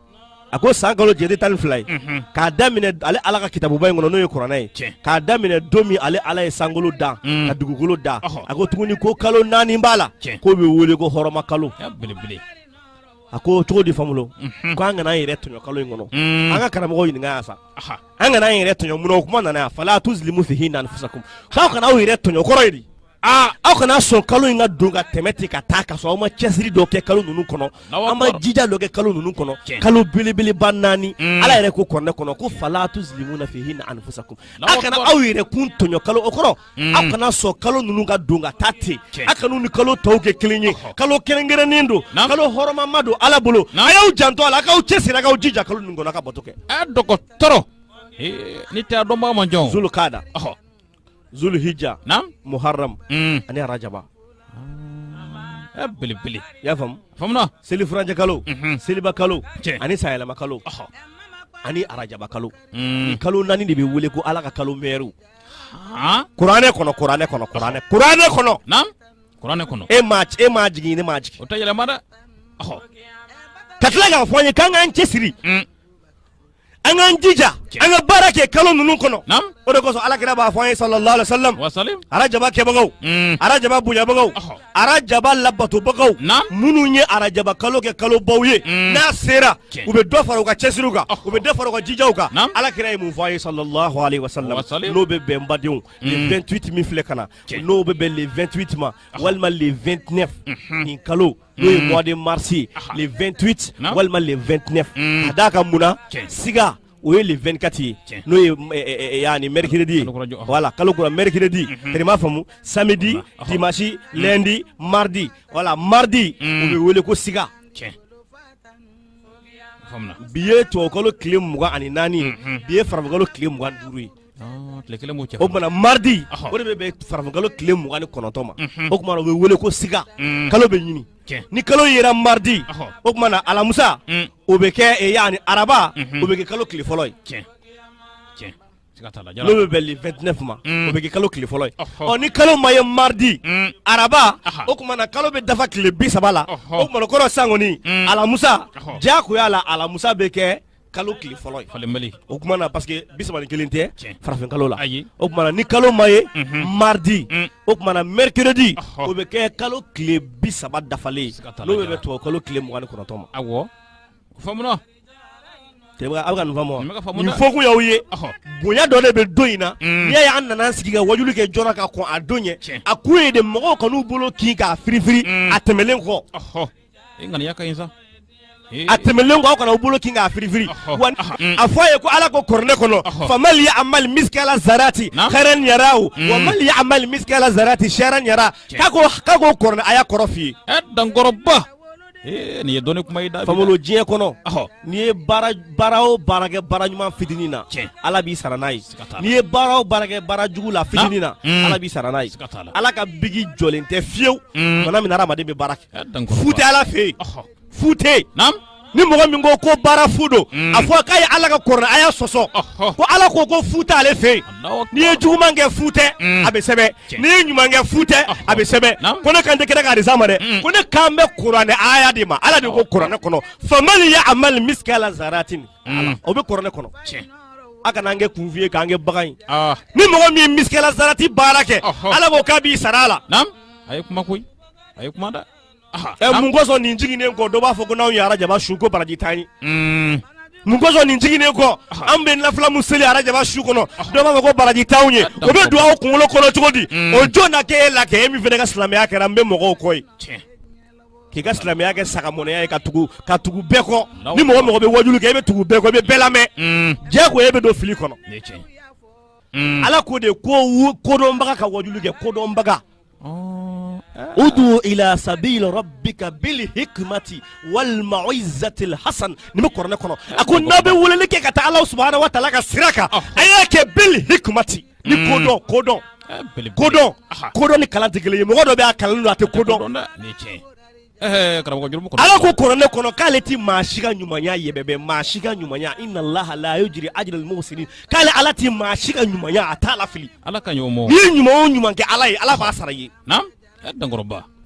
S4: a ko san kalo jate tan ni fila ye k'a daminɛ ale ala ka kitabuba in kɔnɔ n'o ye kuranɛ ye k'a daminɛ don min ale ala ye sankolo da mm. ka dugukolo da a ko tuguni ko kalo naani b'a la k'o bɛ wele ko hɔrɔma kalo a ko cogo di famulo mhm. ko an kana an yɛrɛ tɔɲɔ kalo in kɔnɔ mm. an ka karamɔgɔ ɲininka yan sa an kana an yɛrɛ tɔɲɔ mun na o kuma nana yan fala tuzlimu fihinna anfusakum k'aw kana aw yɛrɛ tɔɲɔ kɔrɔ ye di aa aw kana sɔn kalo in ka don ka tɛmɛ ten ka taa ka sɔrɔ aw ma cɛsiri dɔ kɛ kalo ninnu kɔnɔ Allahu an ma akbar. jija dɔ kɛ kalo ninnu kɔnɔ Tiɲɛ. kalo belebeleba naani Mm. ala yɛrɛ ko kuranɛ kɔnɔ ko fala tuzlimuna fihinna anfusakum a Allahu kana akbar. aw yɛrɛkun tɔɲɔ kalo o kɔrɔ Mm. aw kana sɔn kalo ninnu ka don ka taa ten Tiɲɛ. a kan'u ni kalo tɔw kɛ kelen ye Ɔhɔ. kalo kɛrɛnkɛrɛnnen don Naam. kalo hɔrɔmama don ala bolo Naam. a y'aw janto a la a k'aw cɛsiri a k'aw jija kalo ninnu kɔnɔ a ka bato kɛ a dɔgɔtɔrɔ
S3: Ee, n'o tɛ a dɔnbaga man ca zulukada ɔhɔ
S4: zulhijja na muharram mm. ani rajaba ah,
S3: eh, belebele y'a faamu famulo
S4: seli furancɛ
S3: kalo
S4: mhm. seliba kalo ani sanyɛlɛma kalo ani arajaba kalo mm. nin kalo naani de bɛ wele ko ala ka kalo mɛriw kuranɛ kɔnɔ kuranɛ kɔnɔ e ma e m'a jigin ne m'a jigin o tɛ yɛlɛma dɛ ka tila k'a fɔ an ye k'an k'an cɛsiri mm. an k'an jija an ka baara kɛ kalo ninnu kɔnɔ o de kosɔn alakira b'a fɔ an ye sallallahu alaihi wa sallam arajaba kɛbagaw mm. arajaba bonyabagaw arajaba labatobagaw minnu ye arajaba kalo kɛ kalobaw ye mm. n'a sera u bɛ dɔ fara u ka cɛsiriw kan u bɛ dɔ fara u ka jijaw kan alakira ye mun fɔ an ye sallallahu alaihi wa sallam n'o bɛ bɛn badenw le 28 mm. min filɛ ka na n'o bɛ bɛn le 28 ma walima le 29 mhm. nin kalo n'o ye mois de mars ye le 28 walima le 29 ka d'a kan mun na siga o ye le 24 ye n'o ye yanni mercredi ye voilà kalo kura mercredi tɛ dɛ m'a faamu samedi dimanche lundi mardi voilà mardi o bɛ wele ko siga bi ye tubabukalo tile mugan ani naani ye bi ye farafinkalo tile mugan ni duuru ye o tuma na maridi o de bɛ bɛn farafinkalo tile mugan ni kɔnɔntɔn ma o tuma na o bɛ wele ko siga mm. kalo bɛ ɲini ni kalo yera maridi o tuma na alamusa mm. o bɛ kɛ eh, yanni araba mm-hmm. o bɛ kɛ kalo tile fɔlɔ ye n'o bɛ bɛn le 29 ma mm. o bɛ kɛ kalo tile fɔlɔ ye ɔ ni kalo ma ye maridi mm. araba o tuma na kalo bɛ dafa tile bi saba la o tuma na kɔrɔ sa kɔni alamusa diyagoya la alamusa bɛ kɛ kalo tile fɔlɔ ye falenbali o tuma na parce que bisaba ni kelen tɛ Tiɲɛ. farafin kalo la ayi o tuma na ni kalo ma ye Mhm. mardi Mm. o tuma na mercredi Ɔhɔ. o bɛ kɛ kalo tile bi saba dafalen ye Siga t'a la, n'o bɛ Jara. bɛn tubabu kalo tile mugan ni kɔnɔntɔn ma awɔ faamuna tɛmɛ aw bɛ ka nin faamu wa Nin bɛ ka faamu nin dɛ. fɔ kun y'aw ye ɔhɔ bonya dɔ de bɛ don in na Mm. n'i y'a ye an nana an sigi ka wajulu kɛ jɔna ka kɔn a don ɲɛ Tiɲɛ. a kun ye de mɔgɔw kan'u bolo kin k'a firifiri Mm. a tɛmɛlen kɔ ɔhɔ i ŋaniya ka ɲi sa a tɛmɛlen kɔ aw kana u bolo kin k'a firifiri wa a fɔ a ye ko ala ko kuranɛ kɔnɔ famal ya'mal miskala zarati khairan yarahu wa mal ya'mal miskala zarati sharran yara k'a ko kuranɛ a y'a kɔrɔ f'i ye ɛ
S3: dankɔrɔba nin ye dɔnni kuma ye da famolo diɲɛ kɔnɔ
S4: n'i ye baara o baara kɛ baara ɲuman fitinin na ala b'i sara n'a ye n'i ye baara o baara kɛ baara jugu la fitinin na mm. ala b'i sara n'a ye ala ka biki jɔlen tɛ fiyewu mm. bana min adamaden bɛ baara kɛ fu tɛ ala fɛ yen fu tɛ yen ni mɔgɔ min ko ko baara fu don mm. a fɔ k'a ye ala ka kuranɛ aya sɔsɔ ko ala ko ko fu tɛ ale fɛ yen n'i ye juguman kɛ fu tɛ a bɛ sɛbɛn n'i ye ɲuman kɛ fu tɛ a bɛ sɛbɛn ko ne kan tɛ kira ka hadisa ma dɛ ko ne kan bɛ kuranɛ aya de ma ala de ko kuranɛ kɔnɔ famal ya'mal miskala zaratin o bɛ kuranɛ kɔnɔ a kana an kɛ kunfin ye k'an kɛ bagan ye ni mɔgɔ min miskala zarati baara kɛ ala ko k'a b'i sara a la a ye kuma koyi
S3: a ye kuma dɛ mun kosɔn
S4: nin jiginnen kɔ dɔ b'a fɔ ko n'anw ye arajaba sun ko baraji t'an ye mun kosɔn nin jiginnen kɔ an bɛ nafila min seli arajaba su kɔnɔ dɔ b'a fɔ ko baraji t'anw ye o bɛ don aw kunkolo kɔnɔ cogo di o jɔn na kɛ e la kɛ e min fana ka silamɛya kɛra n bɛ mɔgɔw kɔ ye k'i ka silamɛya kɛ sagamɔnɛya ye ka tugu bɛɛ kɔ ni mɔgɔ o mɔgɔ bɛ wajulu kɛ e bɛ tugu bɛɛ kɔ i bɛ bɛɛ lamɛn mm. diyago e bɛ don fili kɔnɔ mm. ala ko de ko kodɔnbaga ka wajulu kɛ kodɔnbaga oh. udu ila sabili rabbika bil hikmati wal mauizatil hasan nin bɛ kuranɛ kɔnɔ a ko n'a bɛ weleli kɛ ka taa ala subahanahu wa taala ka sira kan a y'a kɛ bil hikmati ni mm. kodɔn kodɔn eh, kodɔn kodɔn ni kalan tɛ kelen ye mɔgɔ dɔ bɛ a kalannen don a tɛ ko dɔn eh, ala ko kuranɛ kɔnɔ k'ale ti maa si ka ɲumanya yɛbɛbɛ maa si ka ɲumanya inna allaha la yujri ajral muhsinin k'ale ala ti maa si ka ɲumanya a t'a lafili ala ka ɲuman n'i ye
S3: ɲuman o ɲuman kɛ
S4: ala ye ala b'a sara i ye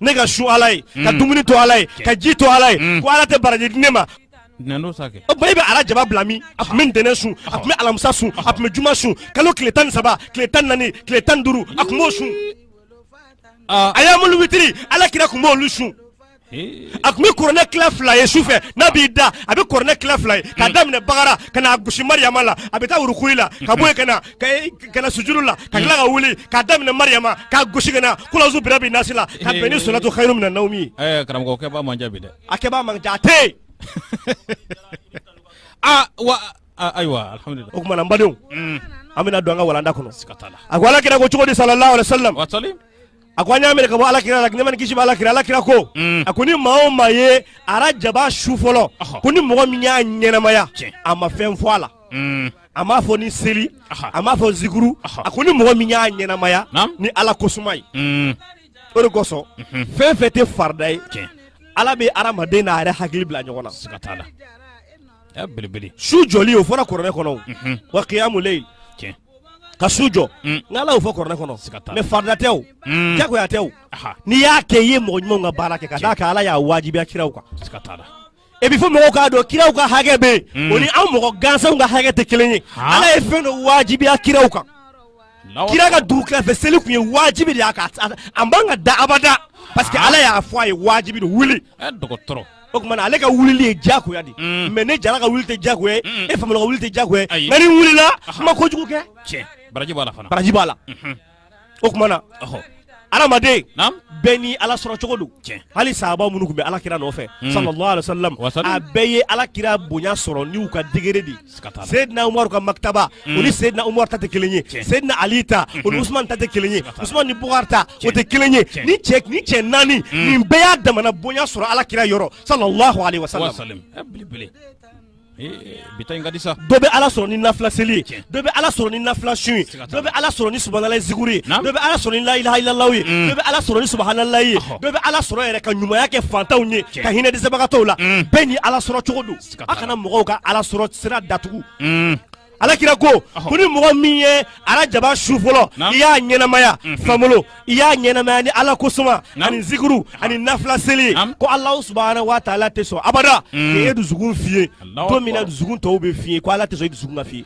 S3: ne ka
S4: sun ala ye ka mm. dumuni to ala ye ka ji to ala ye mm. ko ala tɛ baraji di ne ma o ba e bɛ arajaba bila min a tun bɛ ntɛnɛn sun a tun bɛ alamisa sun a tun bɛ juma sun kalo tile tan ni saba tile tan ni naani tile tan ni duuru a tun b'o sun ayamulu witiri ala kira tun b'olu sun a tun bɛ kuranɛ tila fila ye su fɛ n'a b'i da a bɛ kuranɛ tila fila ye k'a hmm. daminɛ bagara ka n'a gosi mariyama la a bɛ taa urukuli la ka bɔ yen ka na ka na sujudu la ka tila ka hmm. wuli k'a daminɛ mariyama k'a gosi ka na kulazu birabi nasi la ka bɛn ni sɔlatu khairu mina nawmi ye. ɛɛ karamɔgɔ kɛbaa man ca
S3: bi dɛ. a kɛbaa man ca a
S4: tɛ yen. aa wa ayiwa
S3: alihamudulilayi. o tuma na n badenw hmm.
S4: an bɛna don an ka walanda kɔnɔ. siga t'a la. a ko ala kira ko cogo di salalahu alayhi wa salam. a ko an y'a minɛ ka bɔ ala kira la nɛɛma ni kisi b'ala kira ala kira ko mm. a ko ni maa o maa ye arajaba su fɔlɔ ko ni mɔgɔ min y'a ɲɛnamaya a ma fɛn fɔ a la mm. a m'a fɔ ni seli a m'a fɔ zikuru a ko ni mɔgɔ min y'a ɲɛnamaya ni ala kosuma ye mm. o de kosɔn mhm. fɛn fɛn tɛ farida ye ala bɛ adamaden n'a yɛrɛ hakili bila ɲɔgɔn na siga t'a la su jɔli o fɔra kuranɛ kɔnɔ wa kiyamu leyil ka su jɔ mm. n'ala y'o fɔ kuranɛ kɔnɔ mais farida tɛ o mm. jagoya tɛ o n'i y'a kɛ i ye mɔgɔ ɲumanw ka baara kɛ ka d'a kan ala y'a wajibiya kiraw kan et puis fo mɔgɔw k'a dɔn kiraw ka hakɛ bɛ yen mm. o ni an mɔgɔ gansanw ka hakɛ tɛ kelen ye ala ye fɛn dɔ wajibiya kiraw kan kira ka dugutila fɛ seli tun ye wajibi de y'a kan a man ka da abada parce que ala y'a fɔ a ye wajibi don wuli O tuma ale ka wulili ye jagoya de mais ne jara ka wuli tɛ jagoya ye e famolo ka wuli tɛ jagoya ye nka n'i wulila i ma kojugu kɛ cɛ baraji b'a la baraji
S3: b'a la
S4: o tuma na adamaden bɛɛ ni ala sɔrɔ cogo don hali sahaba minnu tun bɛ ala kira nɔfɛ sallallahu alaihi wasallam a bɛɛ ye ala kira bonya sɔrɔ n'u ka degré de Seydina Umaru ka martaba mm. o ni Seydina Umaru ta tɛ kelen ye Seydina Ali ta mm-hmm. o ni Usman ta tɛ kelen ye Usman ni Bukar ta o tɛ kelen ye ni cɛ ni cɛ naani mm. nin bɛɛ y'a damana bonya sɔrɔ Ala kira yɔrɔ sallallahu alaihi wasallam dɔ bɛ ala sɔrɔ ni nafila seli ye dɔ bɛ ala sɔrɔ ni nafila sun ye dɔ bɛ ala sɔrɔ ni subahanalayi zikuru ye dɔ bɛ ala sɔrɔ ni layilaha ilala ye mm. dɔ bɛ ala sɔrɔ ni subahanalayi ye dɔ bɛ ala sɔrɔ yɛrɛ ka ɲumanya kɛ fantanw ye ka hinɛ dɛsɛbagatɔw la mm. bɛɛ ni ala sɔrɔ cogo don a kana mɔgɔw ka ala sɔrɔ sira datugu ala kira ko ko ni mɔgɔ min ye arajaba su fɔlɔ i y'a ɲɛnamaya famolo i y'a ɲɛnamaya ni ala kosuma ani zikuru ani nafila seli ko alahu subhanahu wa ta'ala tɛ sɔn abada k'i dusukun fiyɛ don min na dusukun tɔw bɛ fiyɛ ko ala tɛ sɔn i dusukun ka fiyɛ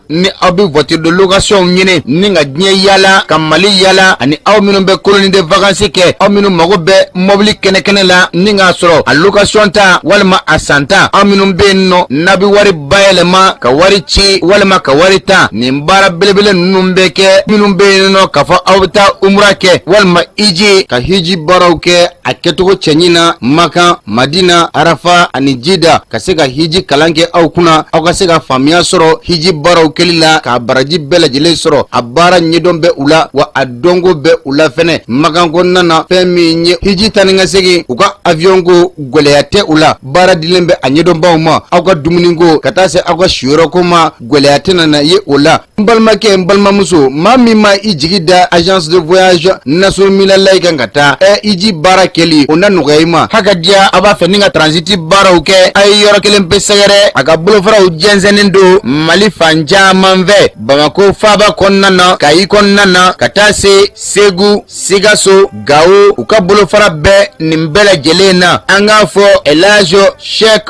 S5: ni aw bɛ voiture de location ɲini ni ka diɲɛ yaala ka mali yaala ani aw minnu bɛ colonie de vacances kɛ aw minnu mago bɛ mɔbili kɛnɛkɛnɛ la ni k'a sɔrɔ a location ta walima a san ta aw minnu bɛ yen nɔ n'a bɛ wari bayɛlɛma ka wari ci walima ka wari ta nin baara belebele ninnu bɛ kɛ minnu bɛ yen nɔ k'a fɔ aw bɛ taa umura kɛ walima hiji ka hiji baaraw kɛ a kɛcogo cɛɲi na makan madina arafa ani jida ka se ka hiji kalan kɛ aw kunna aw ka se ka faamuya sɔrɔ hiji baaraw kɛli la k'a baraji bɛɛ lajɛlen sɔrɔ a baara ɲɛdɔn bɛ u la wa a dɔnko bɛ u la fɛnɛ makan kɔnɔna na fɛn min ye hiji taa ni ka segin u ka aviyɔnko gwɛlɛya tɛ u la baara dilen bɛ a ɲɛdɔnbaw ma aw ka dumuniko ka taa se aw ka siyɔrɔko ma gwɛlɛya tɛna na ye o la n balimakɛ n balimamuso maa min ma i jigi da agence de voyage nasuru minalayi kan ka taa hiji baara kɛli o na nɔgɔya i ma hakadiya a b'a fɛ ni ka transiti baaraw kɛ a ye yɔrɔ kelen pe sɛgɛrɛ a ka bolofaraw jɛnsɛnnen don mali fan caman fɛ bamako faaba kɔnɔna na kayi kɔnɔna na ka taa se segu sikaso gawo u ka bolofara bɛ nin bɛɛ lajɛlen na an k'a fɔ elaji shek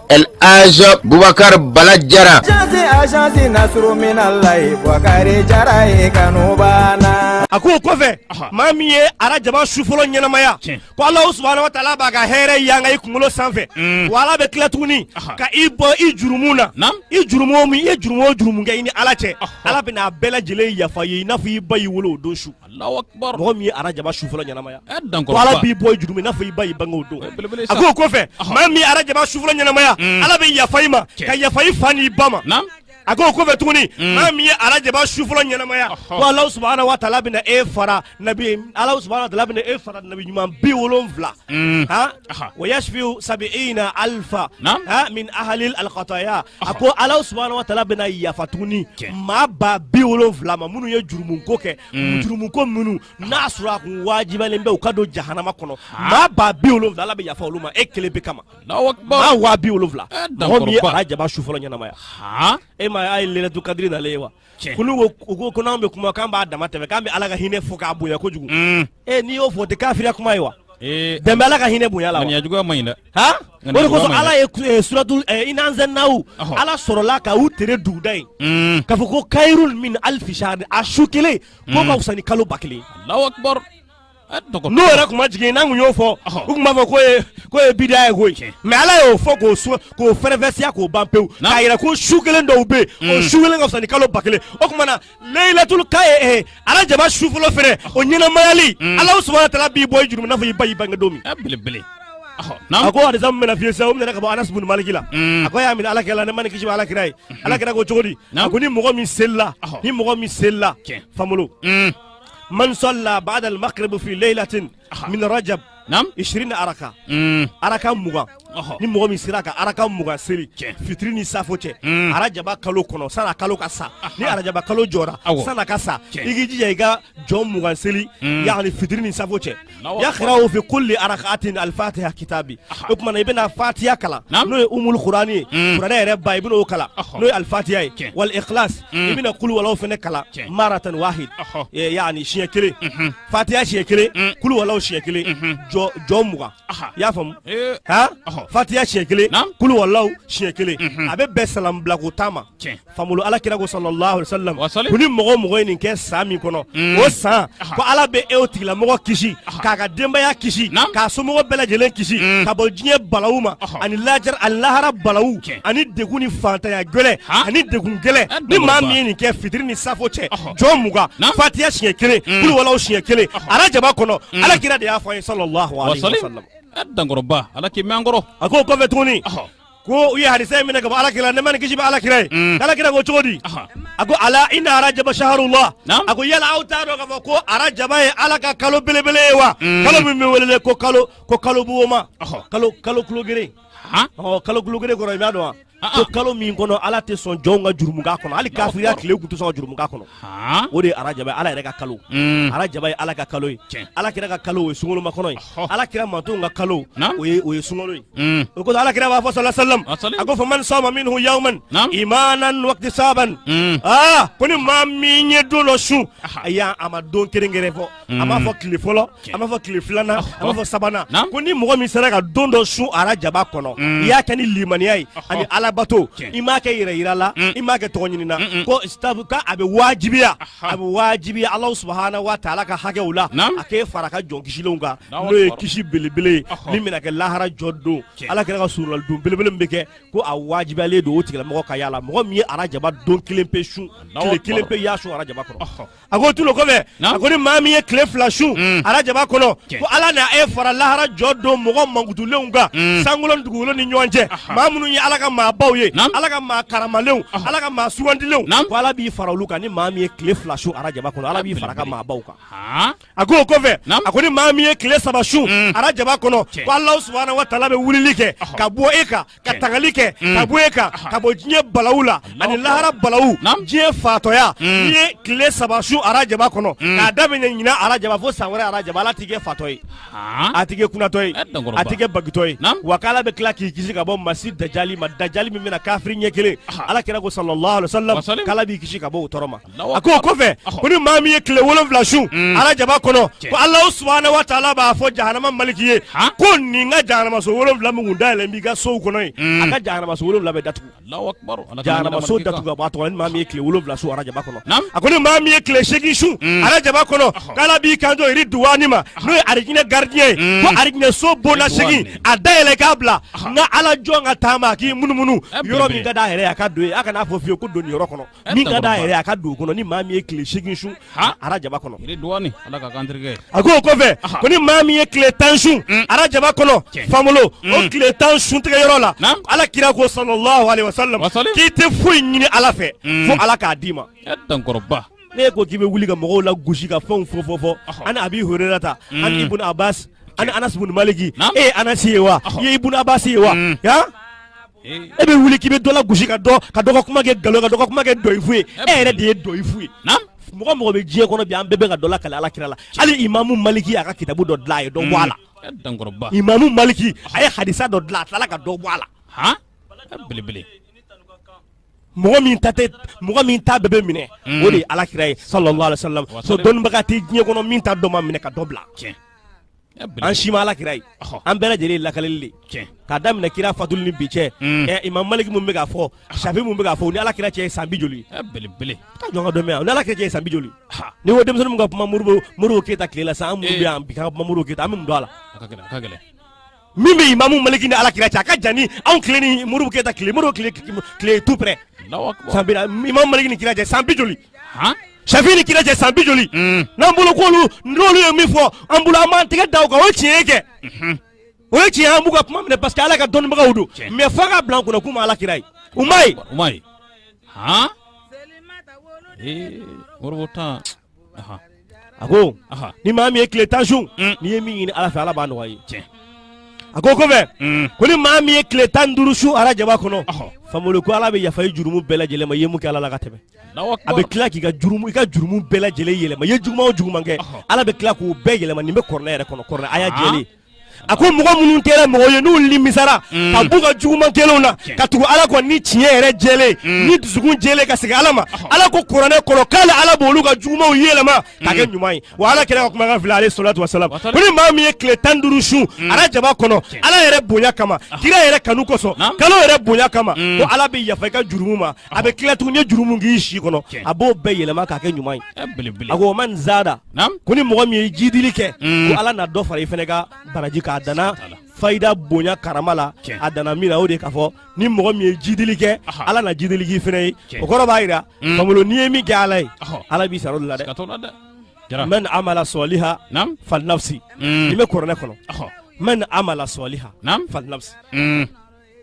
S5: Elaji bubakari bala
S6: jara a ko o kɔfɛ
S4: maa min ye arajaba su fɔlɔ ɲɛnamaya ko alahu subahana wa taala b'a ka hɛrɛ yanga i kunkolo sanfɛ wa ala bɛ tila tuguni ka i bɔ i jurumu na i jurumu min i ye jurumu o jurumu kɛ i ni ala cɛ ala bɛn'a bɛɛ lajɛlen yafa i ye i n'a fɔ i ba y'i wolo o don su mɔgɔ min ye arajaba su fɔlɔ ɲɛnamaya ala b'i bɔ i jurumu i n'a fɔ i ba y'i bange o don a ko o kɔfɛ maa min ye arajaba su fɔlɔ ɲɛnamaya mm. ala bɛ yafa i ma ka yafa i fa n'i ba ma a ko o kɔfɛ tuguni mm. maa min ye arajaba su fɔlɔ ɲɛnamaya ko ala subahana wa taala bɛna e fara nabi ala subahana wa taala bɛna e fara nabi ɲuman bi wolonwula Mm. Ha? wa yashfiu sabiina alfa ha? min ahalil alkataya a ko ala subahana wa taala bɛna yafa tuguni maa ba bi wolonwula ma minnu ye jurumuko kɛ mm. jurumuko minnu n'a sɔrɔ a kun wajibalen bɛ u ka don jahanama kɔnɔ maa ba bi wolonwula ala bɛ yafa olu ma e kelen pe kama maa waa bi wolonwula eh, mɔgɔ min ye arajaba su fɔlɔ ɲɛnamaya e ma a ye layilatul kadiri nalen ye wa kunun ko n'anw bɛ kuma k'an b'a dama tɛmɛ k'an bɛ ala ka hinɛ fɔ k'a bonya kojugu mm. ee eh, n'i y'o fɔ o tɛ kafiriya kuma ye wa eh, dan bɛ ala ka hinɛ bonya la wa ŋaniya juguya man ɲi dɛ
S3: han o de kosɔn
S4: ala ye eh, suratu inna anzalnahu ala sɔrɔla ka u tere duguda ye mm. k'a fɔ ko kayirun min alifi sahari a su kelen k'o mm. ka fisa ni kalo ba kelen ye alahu akibaru n'o yɛrɛ kun ma jigin n'an y'o fɔ u tun b'a fɔ k'o ye bida ye koyi mɛ ala y'o fɔ k'o k'o fɛrɛfɛsiya k'o ban pewu k'a yɛrɛ ko su kelen dɔ bɛ yen o mm. su kelen ka fisa ni kalo ba kelen o tuma na leyilatul ka ye eh, arajaba su fɔlɔ fɛnɛ o ɲɛnamayali mm. ala subahana taala b'i bɔ i jurumu n'a fɔ i ba y'i bange don min.
S3: belebele. a
S4: ko hadisa min bɛna f'i ye sisan o minɛ ka bɔ anas bun maliki la mm. a ko y'a minɛ ala kira la nɛɛma ni kisi bɛ ala kira ye mm-hmm. ala kira ko cogo di a ko ni mɔgɔ min selila ni mɔgɔ min selila famolo man salla ba'da al-maghrib fi laylatin min rajab nam 20 araka mm. araka mugan ni mɔgɔ min sera ka araka mugan seli fitiri ni safo cɛ mm. arajaba kalo kɔnɔ san'a kalo ka sa ni arajaba kalo jɔra san'a ka sa i k'i jija i ka jɔn mugan seli mm. yani fitiri ni safo cɛ yaqrahu fi kulli arakatin alfatiha kitabi o tuma na i bɛna fatiya kalan n'o ye umul kurani ye mm. kuranɛ yɛrɛ ba i bɛn'o kalan n'o ye alfatiya ye wal ikhlas mm. i bɛna kuluwalaw fɛnɛ kalan maratan wahid yani siɲɛ kelen mm-hmm. fatiya siɲɛ kelen mm. kuluwalaw siɲɛ kelen mm-hmm. jɔ mugan i y'a faamu eh. han fatiya siɲɛ kelen kuluwalaw siɲɛ kelen mm-hmm. a bɛ bɛn salambilako tan ma fangolo ala kira ko sallallahu alaihi wasallam ko ni mɔgɔ o mɔgɔ ye nin kɛ san min kɔnɔ o san ko ala bɛ e o tigilamɔgɔ kisi k'a ka denbaya kisi Naam. k'a somɔgɔ bɛɛ lajɛlen kisi ka bɔ diɲɛ balawu ma Ɔhɔ. ani lahara balawu Tiɲɛ. ani degun ni fantanya gɛlɛ Ha? ani degun gɛlɛ Eh, ni maa min ye nin kɛ fitiri ni safo cɛ Ɔhɔ. jɔ mugan Naam. fatiya siɲɛ kelen kuluwalaw siɲɛ kelen arajaba kɔnɔ ala kira de y'a fɔ an ye sallallahu alaihi wasallam a dankɔrɔba
S3: ala k'i mɛn an kɔrɔ a ko o kɔfɛ tuguni Ɔhɔ.
S4: ko u ye hadisa in minɛ ka bɔ ala kira nɛɛma ni kisi bɛ ala kira ye mm. ala kira ko cogo di a ko ala inna arajaba shahrullah a ko yala aw t'a dɔn k'a fɔ ko arajaba ye ala ka kalo belebele ye wa mm. kalo min bɛ welele ko kalo buwoma kalo kulo geren ɔ kalo kulo geren kɔrɔ i b'a dɔn wa ko kalo min kɔnɔ ala tɛ sɔn jɔnw ka jurumu k'a kɔnɔ hali kafiriya tile u tun tɛ sɔn ka jurumu k'a kɔnɔ o de ye arajaba ala yɛrɛ ka kalo mm. arajaba ye ala ka kalo ye ala kira ka kalo o ye sunkalomakɔnɔ ye ala kira mantonw ka kalo o ye sunkalo ye mm. o kosɔn ala kira b'a fɔ sala salam a ko faman sama minhu yawman imanan wahtisaban mm. aa ko ni maa min ye don dɔ sun a y'a a ma don kɛrɛnkɛrɛn fɔ a m'a fɔ tile fɔlɔ a m'a fɔ tile filanan a m'a fɔ sabanan ko ni mɔgɔ min sera ka don dɔ sun arajaba kɔnɔ i y'a kɛ ni limaniya ye ani ala bato i m'a kɛ yɛrɛ yira la i m'a kɛ tɔgɔ ɲini na ko k'a bɛ wajibiya Alahu subahana wa taala ka hakɛw la a k'e fara a ka jɔn kisilenw kan n'o ye kisi belebele ye min bɛna kɛ lahara jɔ don Ala kira ka solonali don belebele min bɛ kɛ ko a wajibiyalen don o tigilamɔgɔ ka y'a la mɔgɔ min ye arajaba don kelen pe sun tile kelen pe y'a sun arajaba kɔnɔ. a ko tugun o kɔfɛ a ko ni maa min ye tile fila sun mm. arajaba kɔnɔ ko ala na e fara lahara jɔ don mɔgɔ mankutulenw kan mm. sankolon dugukolo ni ɲɔgɔn cɛ maa minnu ye ala ka maabaw ye ala ka maa karamalenw ala ka maa sugandilenw ko ala b'i fara olu kan ni maa min ye tile fila sun arajaba kɔnɔ ala b'i fara a ka maabaw kan a ko o kɔfɛ a ko ni maa min ye tile saba sun mm. arajaba kɔnɔ ko ala subahana wa taala bɛ wulili kɛ ka bɔ e kan ka tangali kɛ ka bɔ e kan ka bɔ diɲɛ balawu la ani lahara balawu diɲɛ fatɔya n'i ye tile saba sun arajaba kɔnɔ k'a daminɛ ɲina arajaba fo san wɛrɛ arajaba ala t'i kɛ fatɔ ye a t'i kɛ kunatɔ ye a t'i kɛ bagitɔ ye wa k'ala bɛ tila k'i kisi ka bɔ masi dajali ma dajali min bɛna kafiri ɲɛ kelen ala kira ko sallallahu alaihi wasallam k'ala b'i kisi ka bɔ o tɔɔrɔ ma a ko o kɔfɛ ko ni maa min ye tile wolonwula sun mm. arajaba kɔnɔ ko ala subahana wa taala b'a fɔ jahanama maliki ye ko nin ka jahanamaso wolonwula min kun dayɛlɛ b'i ka sow kɔnɔ ye mm. a ka jahanamaso wolonwula bɛɛ datugu jahanamaso datugu a b'a tɔgɔ ni maa min ye tile wolonwula sun arajaba kɔnɔ a ko ni maa min ye tile seegin sun mm. arajaba kɔnɔ k'ala b'i kanto iriduwani ma n'o ye arijinɛ garidiɲɛ ye ko arijinɛ so bonda segin a dayɛlɛ k'a bila n ka ala jɔn ka taama a k'i munumunu eh, yɔrɔ min ka d'a yɛrɛ ye a ka don yen a kana fɔ fiyewu ko don nin yɔrɔ kɔnɔ min ka d'a yɛrɛ a ka don o kɔnɔ ni maa min ye tile segin sun arajaba kɔnɔ a ko o kɔfɛ ko ni maa min ye tile tan sun mm. arajaba kɔnɔ famolo o mm. tile tan sun tigɛ yɔrɔ la ala kira ko sallallahu alaihi wasallam k'i tɛ foyi ɲini ala fɛ mm. fo ala k'a d'i ma n'e ko k'i bɛ wuli ka mɔgɔw lagosi ka fɛnw fɔ fɔ fɔ ani abi hurairata ani ibun abbas ani anas bun maliki e ye anasi ye wa i ye ibun abbas ye wa e bɛ wuli k'i bɛ dɔ lagosi ka dɔ ka dɔ ka kuma kɛ nkalon ka dɔ ka kuma kɛ dɔyifu ye e yɛrɛ de ye dɔyifu ye mɔgɔ o mɔgɔ bɛ diɲɛ kɔnɔ bi an bɛɛ bɛ ka dɔ lakale ala kira la hali imamu maliki y'a ka kitabu dɔ dilan a ye dɔ bɔ a la mm. imamu maliki a ye hadisa dɔ dilan a tilala ka dɔ bɔ a la belebele mɔgɔ min ta tɛ mɔgɔ min ta bɛɛ bɛ minɛ mm. o de ye ala kira ye sallallahu alaihi wasallam so dɔnnibaga tɛ diɲɛ kɔnɔ min ta dɔ ma minɛ ka dɔ bila an si ma ala kira ye an bɛɛ lajɛlen lakaleli k'a daminɛ kira fatuli ni bi cɛ mm. ɛ imamu maliki min bɛ k'a fɔ safi min bɛ k'a fɔ ni ala kira cɛ ye san bi joli belebele ka jɔn dɔn yan ni ala kira cɛ ye san bi joli n'i ko denmisɛnnin ka kuma moribo moribo keyita tile la sa an minnu eh. bɛ yan bi ka kuma moribo keyita an bɛ mun dɔn a la min bɛ imamu maliki ni ala kira cɛ a ka jan ni anw tile ni moribo keyita tile moribo tile tile tout près san bi imamu maliki ni kira cɛ san bi joli safi ni kira cɛ san bi joli mm. n'an bolo k'olu n'olu ye min fɔ an bolo an b'an tɛgɛ da o kan o ye tiɲɛ ye kɛ mhm. o ye tiɲɛ an b'u ka kuma minɛ parce que ala ka dɔnnibagaw don mais f'a ka bila an kunna k'u ma ala kira ye u ma ye u ma ye han ee moribo tan a ko ni maa min ye tile tan sun mm. n'i ye min ɲini ala fɛ ala b'a nɔgɔya i ye tiɲɛ a ko o kɔfɛ mm. ko ni maa min ye tile tan ni duuru sun arajaba kɔnɔ famolo ko ala bɛ yafa i jurumu bɛɛ lajɛlen ma i ye mun kɛ ala la ka tɛmɛ A bɛ tila k'i ka jurumu i ka jurumu bɛɛ lajɛlen yɛlɛma i ye juguman o juguman kɛ ɔhɔ Ala bɛ tila k'o bɛɛ yɛlɛma nin bɛ kuranɛ yɛrɛ kɔnɔ kuranɛ aya jɛlen a ko mɔgɔ minnu kɛra mɔgɔ ye n'u nimisara ka b'u ka juguman kɛlenw na ka tugu Ala kɔ ni tiɲɛ yɛrɛ jɛlen ni dusukun jɛlen ka segin Ala ma Ala ko kuranɛ kɔnɔ k'ale Ala b'olu ka jugumanw yɛlɛma k'a kɛ ɲuman ye wa Ala kira ka kumakan filɛ ale salatu wa salam ko ni maa min ye tile tan ni duuru sun arajaba kɔnɔ Ala yɛrɛ bonya kama kira yɛrɛ kanu kosɔn kalo yɛrɛ bonya kama ko Ala bɛ yafa i ka jurumu ma a bɛ tila tuguni ye jurumu k'i si kɔnɔ a b'o bɛɛ yɛlɛma k'a kɛ ɲuman ye a ko man zada ko ni mɔgɔ min ye jidili kɛ mm. ko ala na dɔ fara i fana ka baraji k'a danna fayida bonya karama la a danna min na o de k'a fɔ ni mɔgɔ min ye jidili kɛ ala na jidili k'i fana ye o kɔrɔ b'a jira mm. famolo n'i ye min kɛ ala ye ala b'i sara o de la dɛ man amala sɔliha falinafsi mm. nin bɛ kuranɛ kɔnɔ man amala sɔliha falinafsi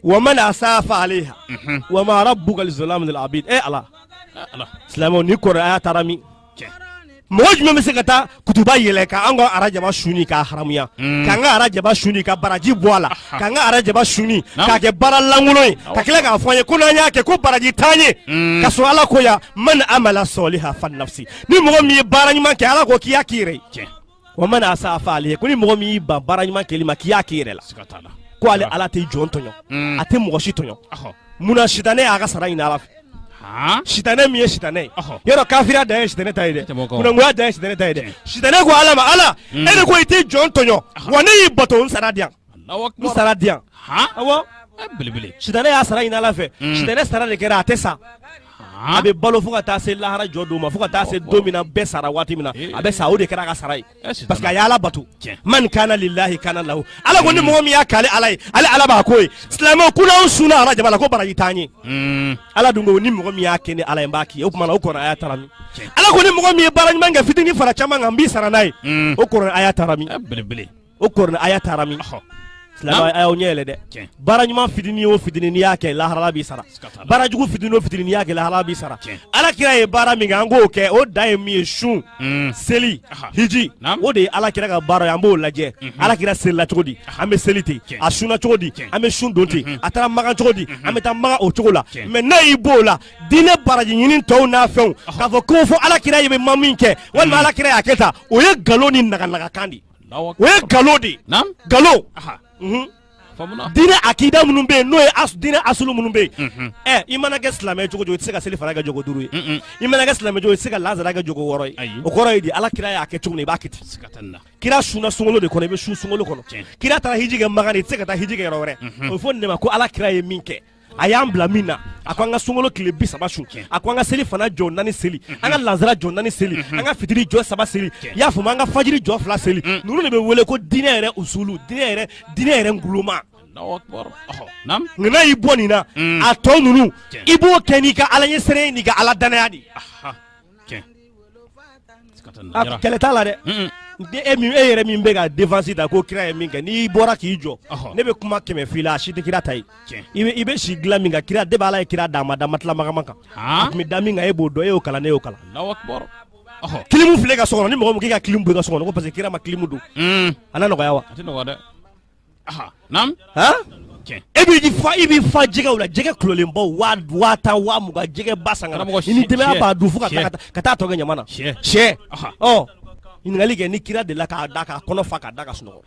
S4: wa man asaa fa aleha mhm. wa ma rabbuka bizalamin lil abid e eh, ala silamɛw nin kuranɛ aya taara min mɔgɔ jumɛn bɛ se ka taa kutuba yɛlɛ ka an ka arajaba suni k'a haramuya mm. k'an ka arajaba suni ka baraji bɔ a la k'an ka arajaba suni k'a kɛ baara lankolon ye ka tila k'a fɔ an ye ko n'an y'a kɛ ko baraji t'an ye mm. ka sɔrɔ ala ko yan man amala sɔliha falinafsi ni mɔgɔ min ye baara ɲuman kɛ ala ko k'i y'a k'i yɛrɛ ye wa man asaa fa aleha ko ni mɔgɔ min y'i ban baara ɲuman kɛli ma k'i y'a k'i yɛrɛ la siga t'a la ko ale ala tɛ jɔn tɔɲɔ a tɛ mɔgɔ si tɔɲɔ Ɔhɔ. munna sitanɛ y'a ka sara ɲini ala fɛ Han? sitanɛ min ye sitanɛ ye Ɔhɔ. yɔrɔ kafiriya dan ye sitanɛ ta ye dɛ Tɛ bɔ kɔ. kunangoya dan ye sitanɛ ta ye dɛ sitanɛ ko ala ma ala e de ko i tɛ jɔn tɔɲɔ wa ne y'i bato n sara di yan sara di yan belebele sitanɛ y'a sara ɲini ala fɛ sitanɛ sara de kɛra a tɛ sa a bɛ balo fo ka taa se lahara jɔ don ma fo ka taa se don min na bɛɛ sara waati min na a bɛ sa o de kɛra a ka sara ye parce que a y'ala bato man kana lilahi kana lahu ala ko ni mɔgɔ min y'a k'ale ala ye ale ala b'a k'o ye silamɛw ko n'anw sunna arajaba la ko baraji t'an ye ala dun ko ni mɔgɔ min y'a kɛ ne ala ye n b'a k'i ye o tuma o kuranɛ aya taara min ala ko ni mɔgɔ min ye baara ɲuman kɛ fitinin fara caman kan n b'i sara n'a ye o kuranɛ aya taara min belebele o kuranɛ aya taara min silamɛw a y'aw ɲɛ yɛlɛ dɛ baara ɲuman fitini o fitini n'i y'a kɛ lahara ala b'i sara baara jugu fitini o fitini n'i y'a kɛ lahara ala b'i sara ala kira ye baara min kɛ an k'o kɛ o dan ye min ye sun hmm. seli hiji o de ye ala kira ka baara ye an b'o lajɛ mhm. ala kira selila cogo di an bɛ seli ten a sunna cogo di an bɛ sun don ten mhm. a taara makan cogo di mhm. an bɛ taa makan o cogo la mais n'a y'i b'o la diinɛ baraji ɲini tɔw n'a fɛnw k'a fɔ ko fo ala kira ye bɛ ma min kɛ walima ala kira y'a kɛ tan o ye nkalon ni naganagakan de ye O ye nkalon de nkalon diinɛ akida minnu bɛ yen n'o ye diinɛ asulu minnu bɛ yen ɛ i mana kɛ silamɛ cogo i tɛ se ka selifana kɛ jɔko duuru ye i mana kɛ silamɛ cogo i tɛ se ka lansara kɛ jɔko wɔɔrɔ ye o kɔrɔ ye di ala kira y'a kɛ cogo min i b'a kɛ ten kira sunna sunkalo de kɔnɔ i bɛ sun sunkalo kɔnɔ kira taara hiji kɛ makan i tɛ se ka taa hiji kɛ yɔrɔ wɛrɛ o fɔ nin ma ko ala kira ye min kɛ a y'an bila min na a ko an ka sunkalo tile bi saba sun a ko an ka selifana jɔ naani seli an ka lansara jɔ naani seli an ka fitiri jɔ saba seli i y'a faamu an ka fajiri jɔ fila seli ninnu de bɛ wele ko diinɛ yɛrɛ usulu diinɛ yɛrɛ diinɛ yɛrɛ nguloma nka n'a y'i bɔ nin na a tɔ ninnu i b'o kɛ n'i ka ala ɲɛsiran n'i ka ala dannaya de kɛlɛ t'a la dɛ e yɛrɛ min bɛ ka défense ta ko kira ye min kɛ n'i bɔra k'i jɔ ne bɛ kuma kɛmɛ f'i la a si tɛ kira ta ye i bɛ si dilan min kan kira de b'ala ye kira d'a ma da matela magaman kan a tun bɛ da min kan e b'o dɔn e y'o kalan ne y'o kalan kilimu filɛ ka so kɔnɔ ni mɔgɔ min k'i ka kilimu bɔ i ka so kɔnɔ ko parce que kira ma kilimu don a na nɔgɔya wa a tɛ nɔgɔya dɛ e b'i i b'i fa jɛgɛw la jɛgɛ kulolenbaw waa tan waa mugan jɛgɛ ba san n'i denbaya b'a dun fo ka taa tɔ kɛ ɲaman na sɛ ɲininkali kɛ ni kira delila k'a da k'a kɔnɔ fa k'a da ka sunɔgɔ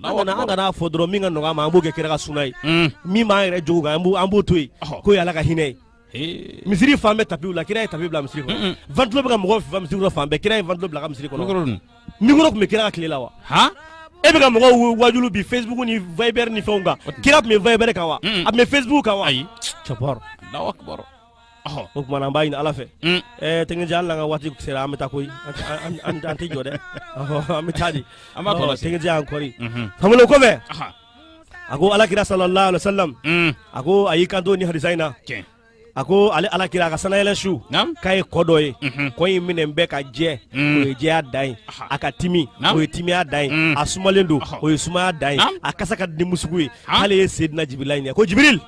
S4: an kana fɔ dɔrɔn min ka nɔgɔ an ma an b'o kɛ kira ka suna ye min b'an yɛrɛ jogo kan an b'o to yen ko ala ka hinɛ ye misiri fan bɛɛ tapiw la kira ye tapi bila misiri kɔnɔ ventilo bɛ ka mɔgɔw fifa misiri kɔnɔ fan bɛɛ kira ye ventilo bila ka misiri kɔnɔ mikoro tun bɛ kira ka tile la wa e bɛ ka mɔgɔw wajulu bi facebook ni viber ni fɛnw kan kira tun bɛ viber kan wa a tun bɛ facebook kan wa ayi cɛbɔrɔ o tuma na an b'a ɲini ala fɛ ɛɛ tɛgɛnjɛ hali n'an ka waati sera an bɛ taa koyi an tɛ jɔ dɛ an bɛ taa di tɛgɛnjɛ an kɔri famolo kɔfɛ a ko alakira sallallahu alaihi wasallam mm. a ko a y'i kanto ni hadisa in na a ko ale alakira a ka sanayɛlɛ su k'a ye kɔ dɔ ye mhm. kɔ in minɛn bɛɛ ka jɛ mm. o ye jɛya dan ye a ka timi o ye timiya dan ye mm. a sumalen don o ye sumaya dan ye a kasa ka di musugu ye k'ale ye sedina jibirila ɲininka ko jibiril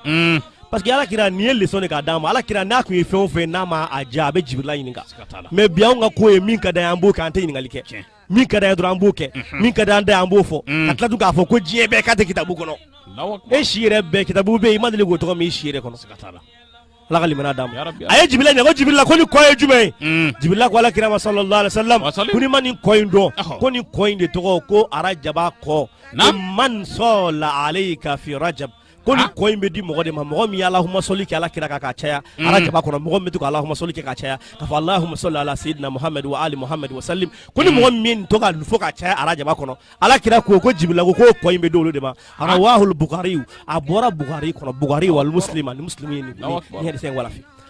S4: parce que alakira nin ye leçon de k'a d'an ma alakira n'a tun ye fɛn o fɛn n'a ma a diya a bɛ jibirila ɲininka mais bi anw ka ko ye min ka d'an ye an b'o kɛ an tɛ ɲininkali kɛ min ka d'an ye dɔrɔn an b'o kɛ mhm. min ka d'an da an b'o fɔ mm. ka tila tun k'a fɔ ko diɲɛ bɛɛ k'a tɛ kitabu kɔnɔ e si yɛrɛ bɛɛ kitabu bɛ yen i ma deli k'o tɔgɔ mɛn i si yɛrɛ kɔnɔ ala ka limaniya d'an ma a ye jibirila ɲininka
S3: ko
S4: jibirila ko nin kɔ ye jumɛn ye mm. jibirila ko alakira ma sallallahu alaihi wasallam ko n'i ma nin kɔ in dɔn ko nin kɔ in de tɔgɔ ko arajaba kɔ man sɔla alayka fi rajab ko nin kɔ in bɛ di mɔgɔ de ma mɔgɔ min ye alahumasɔli kɛ ala kira kan ka caya mm. arajaba kɔnɔ mɔgɔ min bɛ to ka alahumasɔli kɛ ka caya ka fɔ alahumasɔli ala sayidina muhamadu wa ali muhamadu wa salim ko ni mm. mɔgɔ min to ka fɔ ka caya arajaba kɔnɔ ala kira ko ko jibirila ko ko kɔ in bɛ di olu de ma rawahul bukari a bɔra bukari kɔnɔ bukari wa muslim ni muslim ye nin nin hadisa in walafi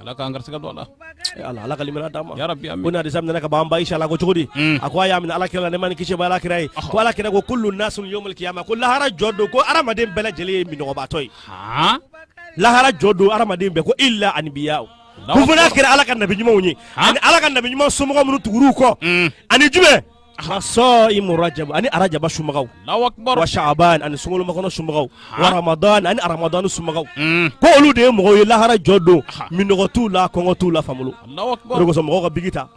S3: ala k'an garisigɛ don a la Eh, ala ala ka
S4: limaniya d'an ma ya rabbi amin ko nin hadisa
S3: minɛ ka bamban
S4: ishala ko cogo di Mm. a ko a y'a mɛn ala kira la nɛɛma ni kisi b'ala kira ye ko ala kira ko kullu nasun yawmal qiyamah ko lahara jɔ don ko adamaden bɛɛ lajɛlen ye minnɔgɔbaatɔ ye
S3: han lahara
S4: jɔ don adamaden bɛɛ ko illa anbiya o Allahu akbar. ko fo n'a kɛra ala ka nabi ɲumanw ye Ha? ani ala ka nabi ɲuman somɔgɔ minnu tugur'u kɔ Mm. ani jumɛn wa sɔimu rajaba ani arajaba sunbagaw wa
S3: saban ani
S4: sunkalomakɔnɔ sunbagaw wa ramadan ani aramadan sunbagaw ko olu de ye mɔgɔ ye lahara jɔ don minnɔgɔ t'u la kɔngɔ t'u la famolo
S3: somɔgɔw ka biki
S4: ta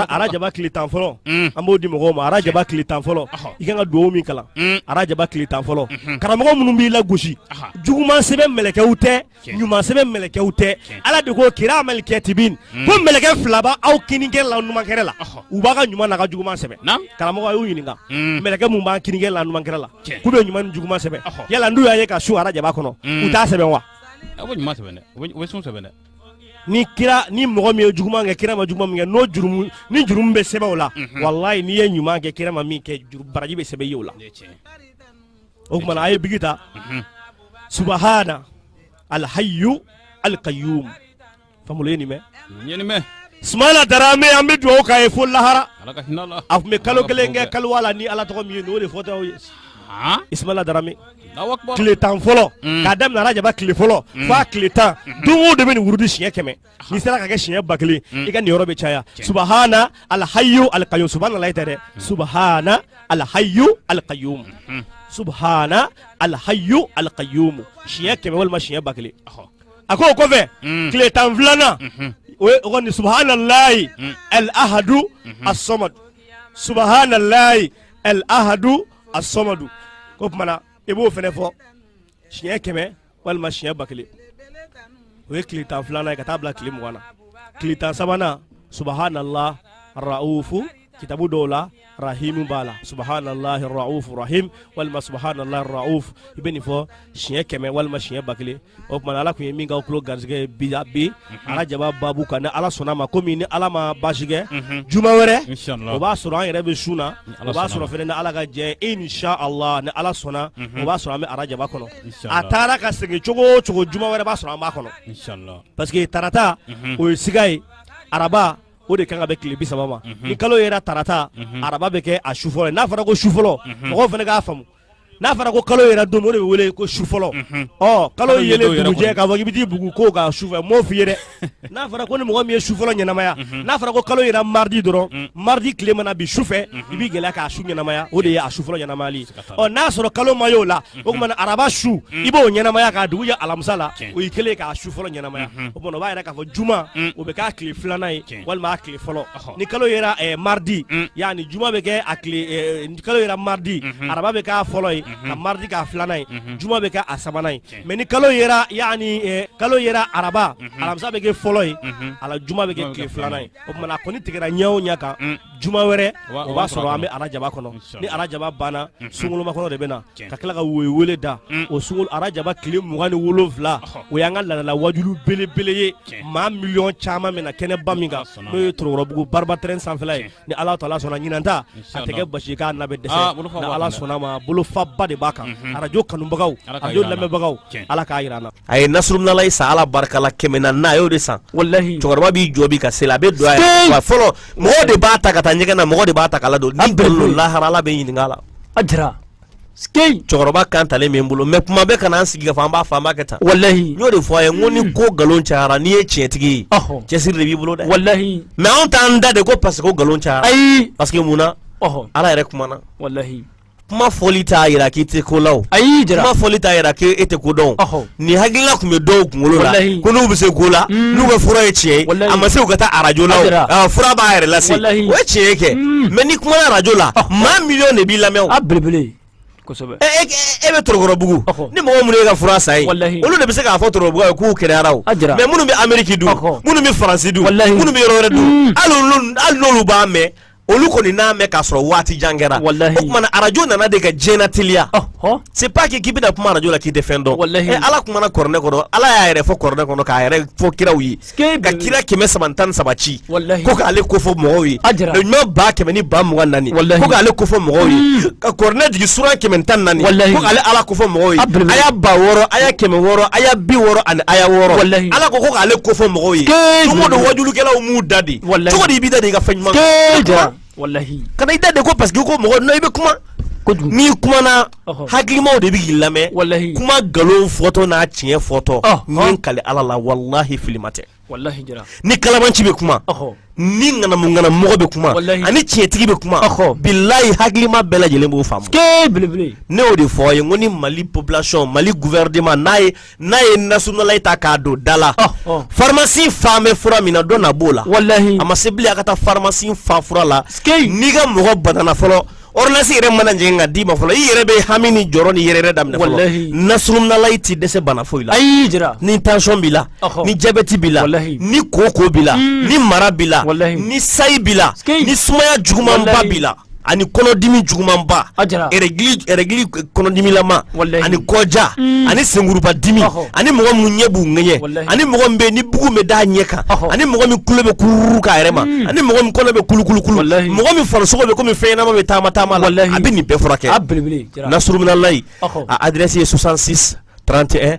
S4: arajaba tile tan fɔlɔ an b'o di mɔgɔ ma arajaba tile tan fɔlɔ i ka kan ka dugawu min kalan arajaba tile tan fɔlɔ karamɔgɔ minnu b'i lagosi juguman sɛbɛnnikɛlaw tɛ ɲuman sɛbɛn mɛlɛkɛw tɛ ala de ko kiramal katibin hmm. ko mɛlɛkɛ fila b'aw kinikɛrɛ la numankɛrɛ la u b'a ka ɲuman n'a ka juguman sɛbɛn karamɔgɔ y'u ɲininka hmm. mɛlɛkɛ min b'an kinikɛrɛ la numankɛrɛ la k'u bɛ ɲuman ni juguman sɛbɛn yala n'u y'a ye ka sun arajaba kɔnɔ hmm. u t'a sɛbɛn wa a bɛ ɲuman sɛbɛn
S3: dɛ u bɛ sun sɛbɛn dɛ ni kira
S4: ni mɔgɔ min ye juguman kɛ kira ma juguman min kɛ n'o jurumu ni jurumu bɛ sɛbɛn o la walayi n'i ye ɲuman kɛ kira ma min kɛ baraji bɛ sɛbɛn i ye o la o tuma a ye biki ta mhm. subahana alhayu alkayum famolo ye nin mɛn ismaila darame an bɛ dugawu k'a ye fo lahara a tun bɛ kalo kelen kɛ kaluwa la ni ala tɔgɔ min ye n'o de fɔtɔ ye ismaila darame tile tan fɔlɔ mm. k'a daminɛ arajaba tile fɔlɔ mm. f'a tile tan mm-hmm. don o don i bɛ nin wurudi siɲɛ kɛmɛ n'i sera k'a kɛ siɲɛ ba kelen mm. i ka niyɔrɔ bɛ caya subahana alhayu alkayyum subahana layi tɛ dɛ mm. subahana alhayu alkayyum mm-hmm. subahana alhayu alkayyum siɲɛ kɛmɛ walima siɲɛ ba kelen a ko o kɔfɛ mm. tile tan filanan mm-hmm. o ye o kɔni subahana layi alahadu mm-hmm. asɔmadu subahana layi alahadu asɔmadu ko tuma na i b'o fɛnɛ fɔ siɲɛ kɛmɛ walima siɲɛ ba kelen o ye tile tan filanan ye ka taa bila tile mugan na tile tan sabanan subahanala raufu kitabu dɔw la rahimu b'a la subahanala raufu rahim walima subahanala raufu i bɛ nin fɔ siɲɛ kɛmɛ walima siɲɛ ba kelen o tuma ala tun ye min k'aw tulo garisɛgɛ ye bi bi mhm. arajaba babu kan ni ala sɔnna a ma komi ni ala ma baasi kɛ mhm. juma wɛrɛ o b'a sɔrɔ an yɛrɛ bɛ sun na o b'a sɔrɔ fana ni ala ka jɛ inshallah ni ala sɔnna mhm. o b'a sɔrɔ an bɛ arajaba kɔnɔ a taara ka segin cogo o cogo juma wɛrɛ b'a sɔrɔ an b'a kɔnɔ parce que tarata o ye siga ye araba o de kan ka bɛn tile bi saba ma ni kalo yera tarata araba bɛ kɛ a su fɔlɔ n'a fɔra ko su fɔlɔ mɔgɔw fɛnɛ k'a faamu n'a fɔra ko kalo yera don o de bɛ wele ko su fɔlɔ ɔ kalo yelen dugujɛ k'a fɔ k'i bɛ t'i bugu ko ka su fɛ m'o f'i ye dɛ n'a fɔra ko ni mɔgɔ min ye su fɔlɔ ɲɛnamaya mhm. n'a fɔra ko kalo yera mardi dɔrɔn mhm. mardi tile mana bin su fɛ mhm. i b'i gɛlɛya k'a su ɲɛnamaya o de ye a su fɔlɔ ɲɛnamayali ɔ n'a sɔrɔ kalo ma y'o la o tuma araba su i b'o ɲɛnamaya k'a dugu jɛ alamisa la o y'i kɛlen ka su fɔlɔ ɲɛnamaya o tuma o b'a yira k'a fɔ juma o bɛ k'a tile filanan ye walima a tile fɔlɔ ni kalo yera eh, mardi yani juma bɛ kɛ a tile eh, kalo yera mardi araba bɛ k'a fɔlɔ ye ka mardi k'a filanan ye juma bɛ kɛ a sabanan ye mais ni kalo yera yani eh, kalo yera araba mhm. alamisa bɛ kɛ fɔlɔ ye mhm. alajuma bɛ kɛ tile filanan ye o tuma a kɔni tigɛra ɲɛ o ɲɛ kan mm. juma wɛrɛ o b'a sɔrɔ an bɛ arajaba kɔnɔ ni arajaba banna mhm. sunkalomakɔnɔ de bɛ na ka tila ka woyo wele da mm. o sun arajaba tile mugan ni wolonwula o y'an ka ladala wajulu belebele ye maa miliyɔn caman bɛ na kɛnɛba min kan n'o ye torokɔrɔbugu bariba terrain sanfɛla ye ni ala taala sɔnna ɲinan ta a tɛ kɛ basi k' labɛn dɛsɛ ah, ala sɔnna ma bolofaba de b'a kan mhm. arajo kanubagaw arajo lamɛnbagaw ala k'a yira an na a ye nasuruminalayi
S7: san ala barika la kɛmɛ naani a y'o de san walahi cɛkɔrɔba b'i jɔ bi ka seli a bɛ don a fɔlɔ mɔgɔ de b'a ta ka taa ɲɛgɛn na mɔgɔ de b'a ta
S8: k'a
S7: ladon ni lahara ala bɛ ɲininka la a jira Skeyi cɛkɔrɔba kan talen bɛ n bolo mais kuma bɛɛ kana an sigi ka fɔ an b'a fɔ an b'a kɛ tan walahi n y'o de fɔ a ye
S4: n ko ni
S7: ko nkalon cayara n'i ye tiɲɛtigi ye ɔhɔ cɛsiri de b'i bolo dɛ walahi mais anw
S4: t'an da
S7: de ko parce que ko nkalon cayara ayi parce que mun na ɔhɔ ala yɛrɛ kumana
S4: walahi kuma fɔli
S7: t'a yira k'i tɛ ko la o ayi jara kuma fɔli t'a
S4: yira k'e
S7: tɛ ko dɔn o ɔhɔ nin hakilila tun bɛ dɔw kunkolo la ko n'u bɛ se ko la mm. n'u ka fura ye tiɲɛ ye a ma se u ka taa arajo la fura b'a yɛrɛ lase o ye tiɲɛ ye kɛ mm. mais n'i kumana arajo la ah. maa miliyɔn de b'i lamɛn a belebele
S4: kosɛbɛ e, e, e, e
S7: bɛ torokɔrɔbugu ni mɔgɔ minnu y'i ka fura san yen olu de bɛ se k'a fɔ torokɔrɔbugu yen k'u kɛnɛyara o mais minnu bɛ ameriki dun minnu bɛ faransi dun minnu bɛ yɔrɔ wɛrɛ dun mm. hali n'olu b'a mɛn olu kɔni n'a mɛn k'a sɔrɔ waati jan kɛra o tuma na arajo nana de ka diɲɛ lateliya c'est pas que k'i bɛna kuma arajo la k'i tɛ fɛn dɔn ɛ eh, ala kumana kɔrɔnɛ kɔnɔ ala y'a yɛrɛ fɔ kɔrɔnɛ kɔnɔ k'a yɛrɛ fɔ kiraw ye ka kira kɛmɛ saba tan saba ci ko k'ale ko fɔ mɔgɔw ye ɲuman ba kɛmɛ ni ba mugan naani ko k'ale ko fɔ mɔgɔw ye hmm. ka kɔrɔnɛ jigin sura kɛmɛ tan naani ko k'ale ala ko fɔ mɔgɔw ye aya ba wɔɔrɔ aya kɛmɛ wɔɔrɔ aya bi wɔɔrɔ ani aya wɔɔrɔ ala ko ko k'ale ko fɔ mɔgɔw ye don o don wajulikɛlaw m'u da de wallahi cogo di i b'i da de i ka fɛn ɲuman ke ja wallahi
S4: kana i da de ko
S7: parce que ko mɔgɔ n'i bɛ kuma n'i kumana hakilimaw de bɛ k'i lamɛn wallahi kuma nkalon
S4: fɔtɔ
S7: n'a tiɲɛ fɔtɔ ne kalen ala la wallahi filima tɛ wallahi jara
S4: ni kalabanci bɛ
S7: kuma ni ŋanamuŋanamu mɔgɔ bɛ kuma ani tiɲɛtigi bɛ kuma bilayi hakilima bɛɛ lajɛlen b'o faamu ke belebele ne y'o de fɔ aw ye n ko ni mali population mali gouvernement n'a ye n'a ye nasuruminalayi ta k'a don da la oh, oh. farimasi fan bɛ fura min na dɔ na b'o la a ma se bilen a ka taa farimasi fan fura la n'i ka mɔgɔ banana fɔlɔ ordonnance yɛrɛ mana jigin ka d'i ma fɔlɔ i yɛrɛ bɛ hami ni jɔrɔ ni yɛrɛyɛrɛ daminɛ fɔlɔ nasuruminalayi tɛ dɛsɛ bana foyi la ayi jara ni
S4: tension b'i
S7: la ni diabète b'i la ni kooko b'i la hmm. ni mara b'i la ni sayi b'i la ni sumaya jugumanba b'i la ani kɔnɔdimi jugumanba règle kɔnɔdimilama ani kɔja mm. ani senkuruba dimi ani mɔgɔ minnu ɲɛ b'u ŋɛɲɛ ani mɔgɔ min bɛ ni bugu bɛ d'a ɲɛ kan ani mɔgɔ min kulo bɛ kururu k'a yɛrɛ ma mm. ani mɔgɔ min kɔnɔ bɛ kulukulukulu mɔgɔ min farisogo bɛ komi fɛn ɲɛnama bɛ taama taama la a bɛ nin bɛɛ furakɛ nasuruminalayi a adresse ye 66 31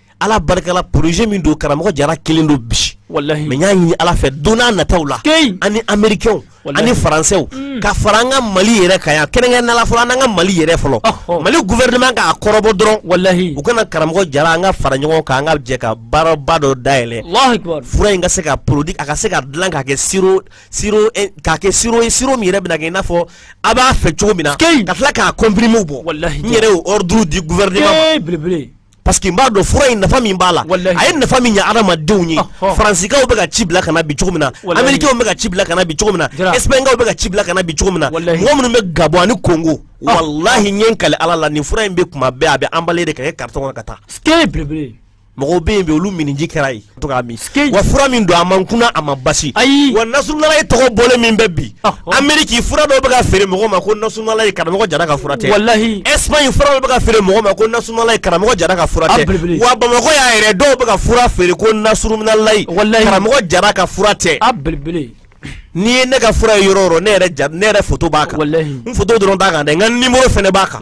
S7: ala barika la poroze min don karamɔgɔ jara kelen don bi mɛ n y'a ɲini ala fɛ don n'a nataw la ani amerikɛnw ani faransɛw mm. ka fara an ka mali yɛrɛ kan yan kɛrɛnkɛrɛnnenya la fɔlɔ an n'an ka mali yɛrɛ fɔlɔ oh, oh. mali gufɛrɛnman k'a kɔrɔbɔ dɔrɔn walahi u ka na karamɔgɔ jara an ka fara ɲɔgɔn kan an ka jɛ ka baaraba dɔ dayɛlɛ fura in ka se ka porodi a ka se ka dilan k'a kɛ siro siro eh, k'a kɛ siro ye siro min yɛrɛ bɛna kɛ i n'a fɔ a b'a fɛ cogo min na ka tila k'a kɔnpirimiw bɔ n yɛrɛ y'o ɔriduru di gufɛrɛneman ma parce que n b'a dɔn fura in nafa min b'a la a ye nafa min ɲɛ adamadenw ye faransikaw bɛ ka ci bila ka na bi cogo min na amerikɛnw bɛ ka ci bila ka na bi cogo min na ɛsipaɲikaw bɛ ka ci bila ka na bi cogo min na mɔgɔ minnu bɛ gabɔn ani kongo ah. walahi n ye n kale ala la nin fura in bɛ kuma bɛɛ a bɛ anbale de ka kɛ karitɔn kɔnɔ ka taa mɔgɔw bɛ yen bi olu miniji kɛra ye to k'a min wa fura min don a man kunna a man basi ayi wa nasuruminalahi tɔgɔ bɔlen min bɛ bi ameriki fura dɔw bɛ ka feere mɔgɔw ma ko nasuruminalahi karamɔgɔ jara ka fura tɛ walahi espagne fura dɔw bɛ ka feere mɔgɔw ma ko nasuruminalahi karamɔgɔ jara ka fura tɛ wa bamakɔ yan yɛrɛ dɔw bɛ ka fura feere ko nasuruminalahi karamɔgɔ jara ka fura tɛ a belebele n'i ye ne ka fura ye yɔrɔ o yɔrɔ ne yɛrɛ ne yɛrɛ foto b'a kan n foto dɔrɔn t'a kan dɛ n ka nimoro fana b'a kan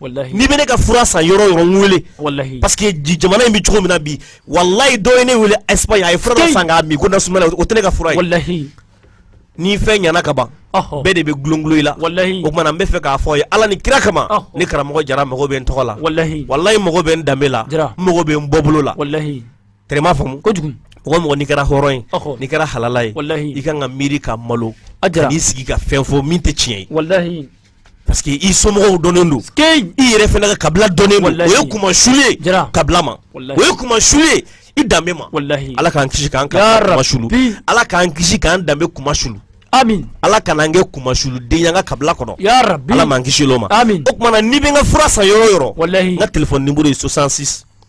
S7: n'i bɛ ne ka fura san yɔrɔ o yɔrɔ n wele walahi parce que jamana in bɛ cogo min na bi walayi dɔ ye ne wele Espagne a ye fura dɔ san k'a min ko nasuruminalahi o tɛ ne ka fura ye walahi ni fɛn ɲɛna ka ban bɛɛ de bɛ gulongulon i la walahi o kuma na n b'a fɛ k'a fɔ aw ye Ala ni kira kama ne karamɔgɔ Jara mago bɛ n tɔgɔ la walahi walayi n mago bɛ n danbe la n mago bɛ n bɔbolo la walahi tɛrɛ i m'a faamu kojugu mɔgɔ o mɔgɔ n'i kɛra hɔrɔn ye n'i kɛra halala ye i ka kan ka miiri ka malo ka n'i sigi ka fɛn fɔ min tɛ tiɲɛ ye walahi parce que i somɔgɔw dɔnnen don i yɛrɛ fana ka kabila dɔnnen don o ye kunmasuli ye kabila ma o ye kunmasuli ye i danbe ma ala k'an kisi k'an kunmasuli ala k'an kisi k'an danbe kunmasuli Amin. Ala kana an kɛ kunmasuliden y'an ka kabila kɔnɔ. Ya rabi. Ala m'an kisil'o ma. Amin. O tuma na n'i bɛ n ka fura san yɔrɔ o yɔrɔ. Walahi. N ka téléphone numéro ye 66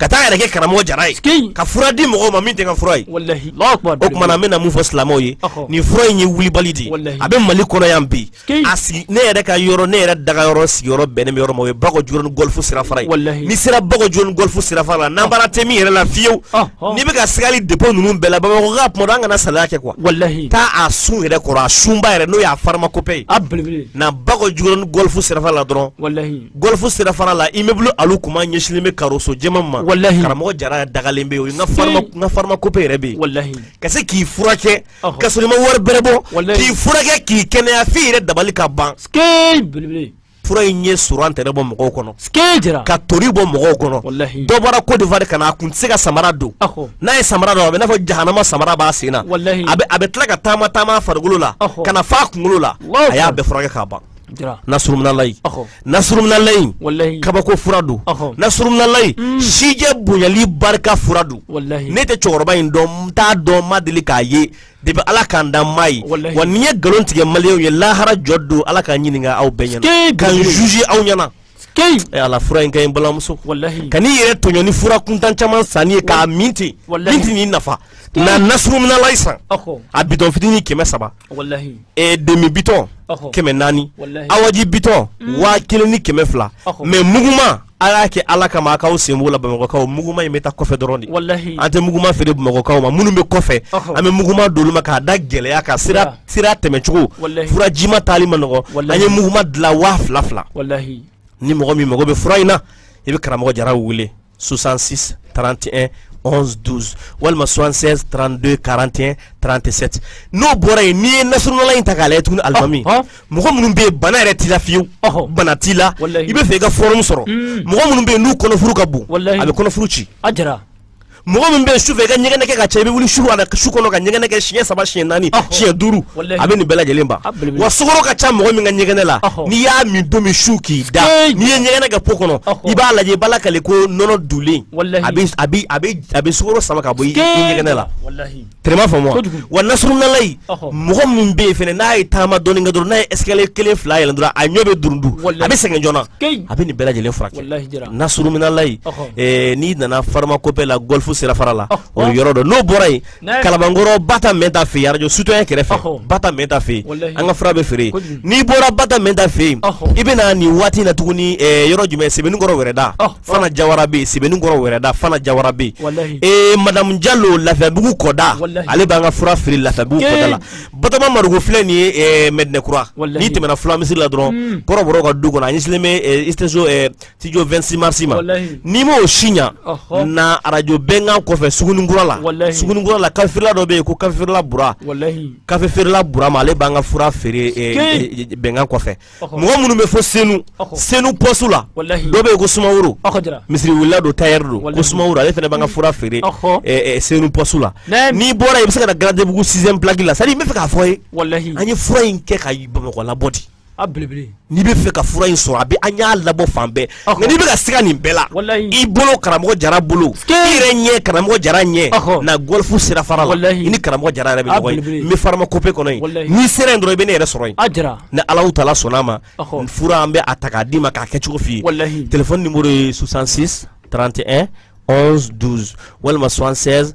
S7: ka taa a yɛrɛ kɛ karamɔgɔ jara ye ka fura di mɔgɔw ma min tɛ n ka fura ye o tuma na n bɛna mun fɔ silamɛw ye nin fura in ye wulibali de ye a bɛ mali kɔnɔ yan bi a sigi ne yɛrɛ ka yɔrɔ ne yɛrɛ dagayɔrɔ sigiyɔrɔ bɛnnen bɛ yɔrɔ min ma o ye bakɔ jikɔrɔni gɔlifu sirafara ye n'i sera bakɔ jikɔrɔni gɔlifu sirafara la nanbara tɛ min yɛrɛ la fiyewu n'i bɛ ka sigali depo ninnu bɛɛ la bamakɔ ka kuma an kana salaya kɛ kuwa taa a sun yɛrɛ kɔrɔ a sunba yɛrɛ n'o y'a farimakopɛ ye na bakɔ jikɔrɔni gɔlifu sirafara la dɔrɔn Gɔlifu sirafara la immeuble Alu Kuma ɲɛsinlen bɛ karoso jɛman ma walahi karamɔgɔ jara dagalen bɛ yen n ka farimakope yɛrɛ bɛ yen walahi ka se k'i furakɛ k'a sɔrɔ i ma wari bɛrɛ bɔ k'i furakɛ k'i kɛnɛya f'i yɛrɛ dabali ka ban fura in ye surantɛrɛ bɔ mɔgɔw kɔnɔ ka tori bɔ mɔgɔw kɔnɔ dɔ bɔra kɔdiwari ka na a kun tɛ se ka samara don n'a ye samara don a bɛ n'a fɔ jahanama samara b'a sen na a bɛ tila ka taama taama a farikolo la ka na f'a kunkolo la a y'a bɛɛ furakɛ k'a ban Nasuruminalayi nasuruminalayi kabako fura don nasuruminalayi sijan bonyali barika fura don ne tɛ cɛkɔrɔba in dɔn n t'a dɔn n ma deli k'a ye depuis ala ka n dan n m'a ye wa ni n ye nkalon tigɛ maliyɛnw ye lahara jɔ don ala ka n ɲininka aw bɛɛ ɲɛna ka n juger aw ɲɛna ee eh, ala fura in ka ɲi balimamuso kan'i yɛrɛ tɔɲɔ ni fura kuntan caman sanni ye k'a min ten min tɛn'i nafa na nasuruminalayi san a bitɔn fitinin kɛmɛ saba eh, demi bitɔn kɛmɛ naani awaji bitɔn mm. waa kelen ni kɛmɛ fila mɛ muguma a y'a kɛ ala kama a k'aw sen b'o la bamakɔkaw muguma in bɛ taa kɔfɛ dɔrɔn de an tɛ muguma feere bamakɔkaw ma minnu bɛ kɔfɛ an bɛ muguma d'olu ma k'a da gɛlɛya kan sira sira tɛmɛcogo fura jima taali ma nɔgɔ an ye muguma dilan waa fila fila ni mɔgɔ min mago bɛ fura in na i bɛ karamɔgɔ jara wele 66 31 11 12 walima 76 32 41 37 n'o bɔra yen n'i ye nasuruminalayi in ta k'a lajɛ tuguni alimami mɔgɔ minnu bɛ yen bana yɛrɛ t'i la fiyewu bana t'i la i bɛ fɛ i ka fɔrɔmu sɔrɔ mɔgɔ minnu bɛ yen n'u kɔnɔfuru ka bon a bɛ kɔnɔfuru ci mɔgɔ min bɛ su fɛ i ka ɲɛgɛnɛ kɛ ka ca i bɛ wuli su kɔnɔ ka ɲɛgɛnɛ kɛ siɲɛ saba siɲɛ naani siɲɛ duuru a bɛ nin bɛɛ lajɛlen ban wa sukoro ka ca mɔgɔ min ka ɲɛgɛnɛ la n'i y'a min don min su k'i da n'i ye ɲɛgɛnɛ kɛ po kɔnɔ i b'a lajɛ i b'a lakale ko nɔnɔ dulen a bɛ sukoro sama ka bɔ i ɲɛgɛnɛ la Traitement faamu wa nasuruminalayi mɔgɔ min bɛ yen fana n'a ye taama dɔɔni kɛ dɔrɔn n'a ye escalier kelen fila yɛlɛn dɔrɔn a ɲɔn bɛ durundu a bɛ sɛgɛn joona a bɛ nin bɛɛ lajɛlen furakɛ nasuruminalayi n'i nana pharmacopée la gɔlifu sira fara la o yɔrɔ don n'o bɔra yen kalabankɔrɔ ba mɛnta fɛ arajo citoyen kɛrɛfɛ ba mɛnta fɛ yen an ka fura bɛ feere n'i bɔra ba mɛnta fɛ yen i bɛna nin waati na tuguni yɔrɔ jumɛn sebenikɔrɔ wɛrɛda fana jawara bɛ yen sebenikɔrɔ wɛrɛda fana jawara bɛ yen ee madamu jalo lafiyabugu kɔda ale b'an ka fura feere lafiyabugu kɔda la batoma marugo filɛ nin ye eh, mɛdinɛkura n'i tɛmɛna fulamisiri la dɔrɔn hmm. kɔrɔbɔrɔ ka du kɔnɔ a ɲɛsinnen bɛ eh, isteso eh, studio 26 marisi ma n'i m'o si ɲa na arajo bɛnkan kɔfɛ sugunikura la sugunikura la kafe feerela dɔ bɛ yen ko kafe feerela bura kafe feerela bura ma ale b'an ka fura feere bɛnkan kɔfɛ mɔgɔ minnu bɛ fɔ senu senu pɔsu la dɔ bɛ yen ko sumaworo misiri welela don tayɛri don ko sumaworo ale fana b'an ka fura feere senu pɔsu la n'i bɔra yen i bɛ se ka na garadebugu sixième plaque la c'est à dire n bɛ fɛ k'a fɔ ye an ye fura in kɛ ka bamakɔ labɔ de n'i bɛ fɛ ka fura in sɔrɔ a bɛ an y'a labɔ fan bɛɛ nka n'i bɛ ka siga nin bɛɛ la i bolo karamɔgɔ jara bolo i yɛrɛ ɲɛ karamɔgɔ jara ɲɛ na gɔlifu sira fara la i ni karamɔgɔ jara yɛrɛ bɛ ɲɔgɔn ye n bɛ pharmacopée kɔnɔ yen n'i sera yen dɔrɔn i bɛ ne yɛrɛ sɔrɔ yen ni Alahu taala sɔnna a ma fura an bɛ a ta k'a d'i ma k'a kɛcogo f'i ye telefɔni nimoro ye 66 31 11 12 walima 76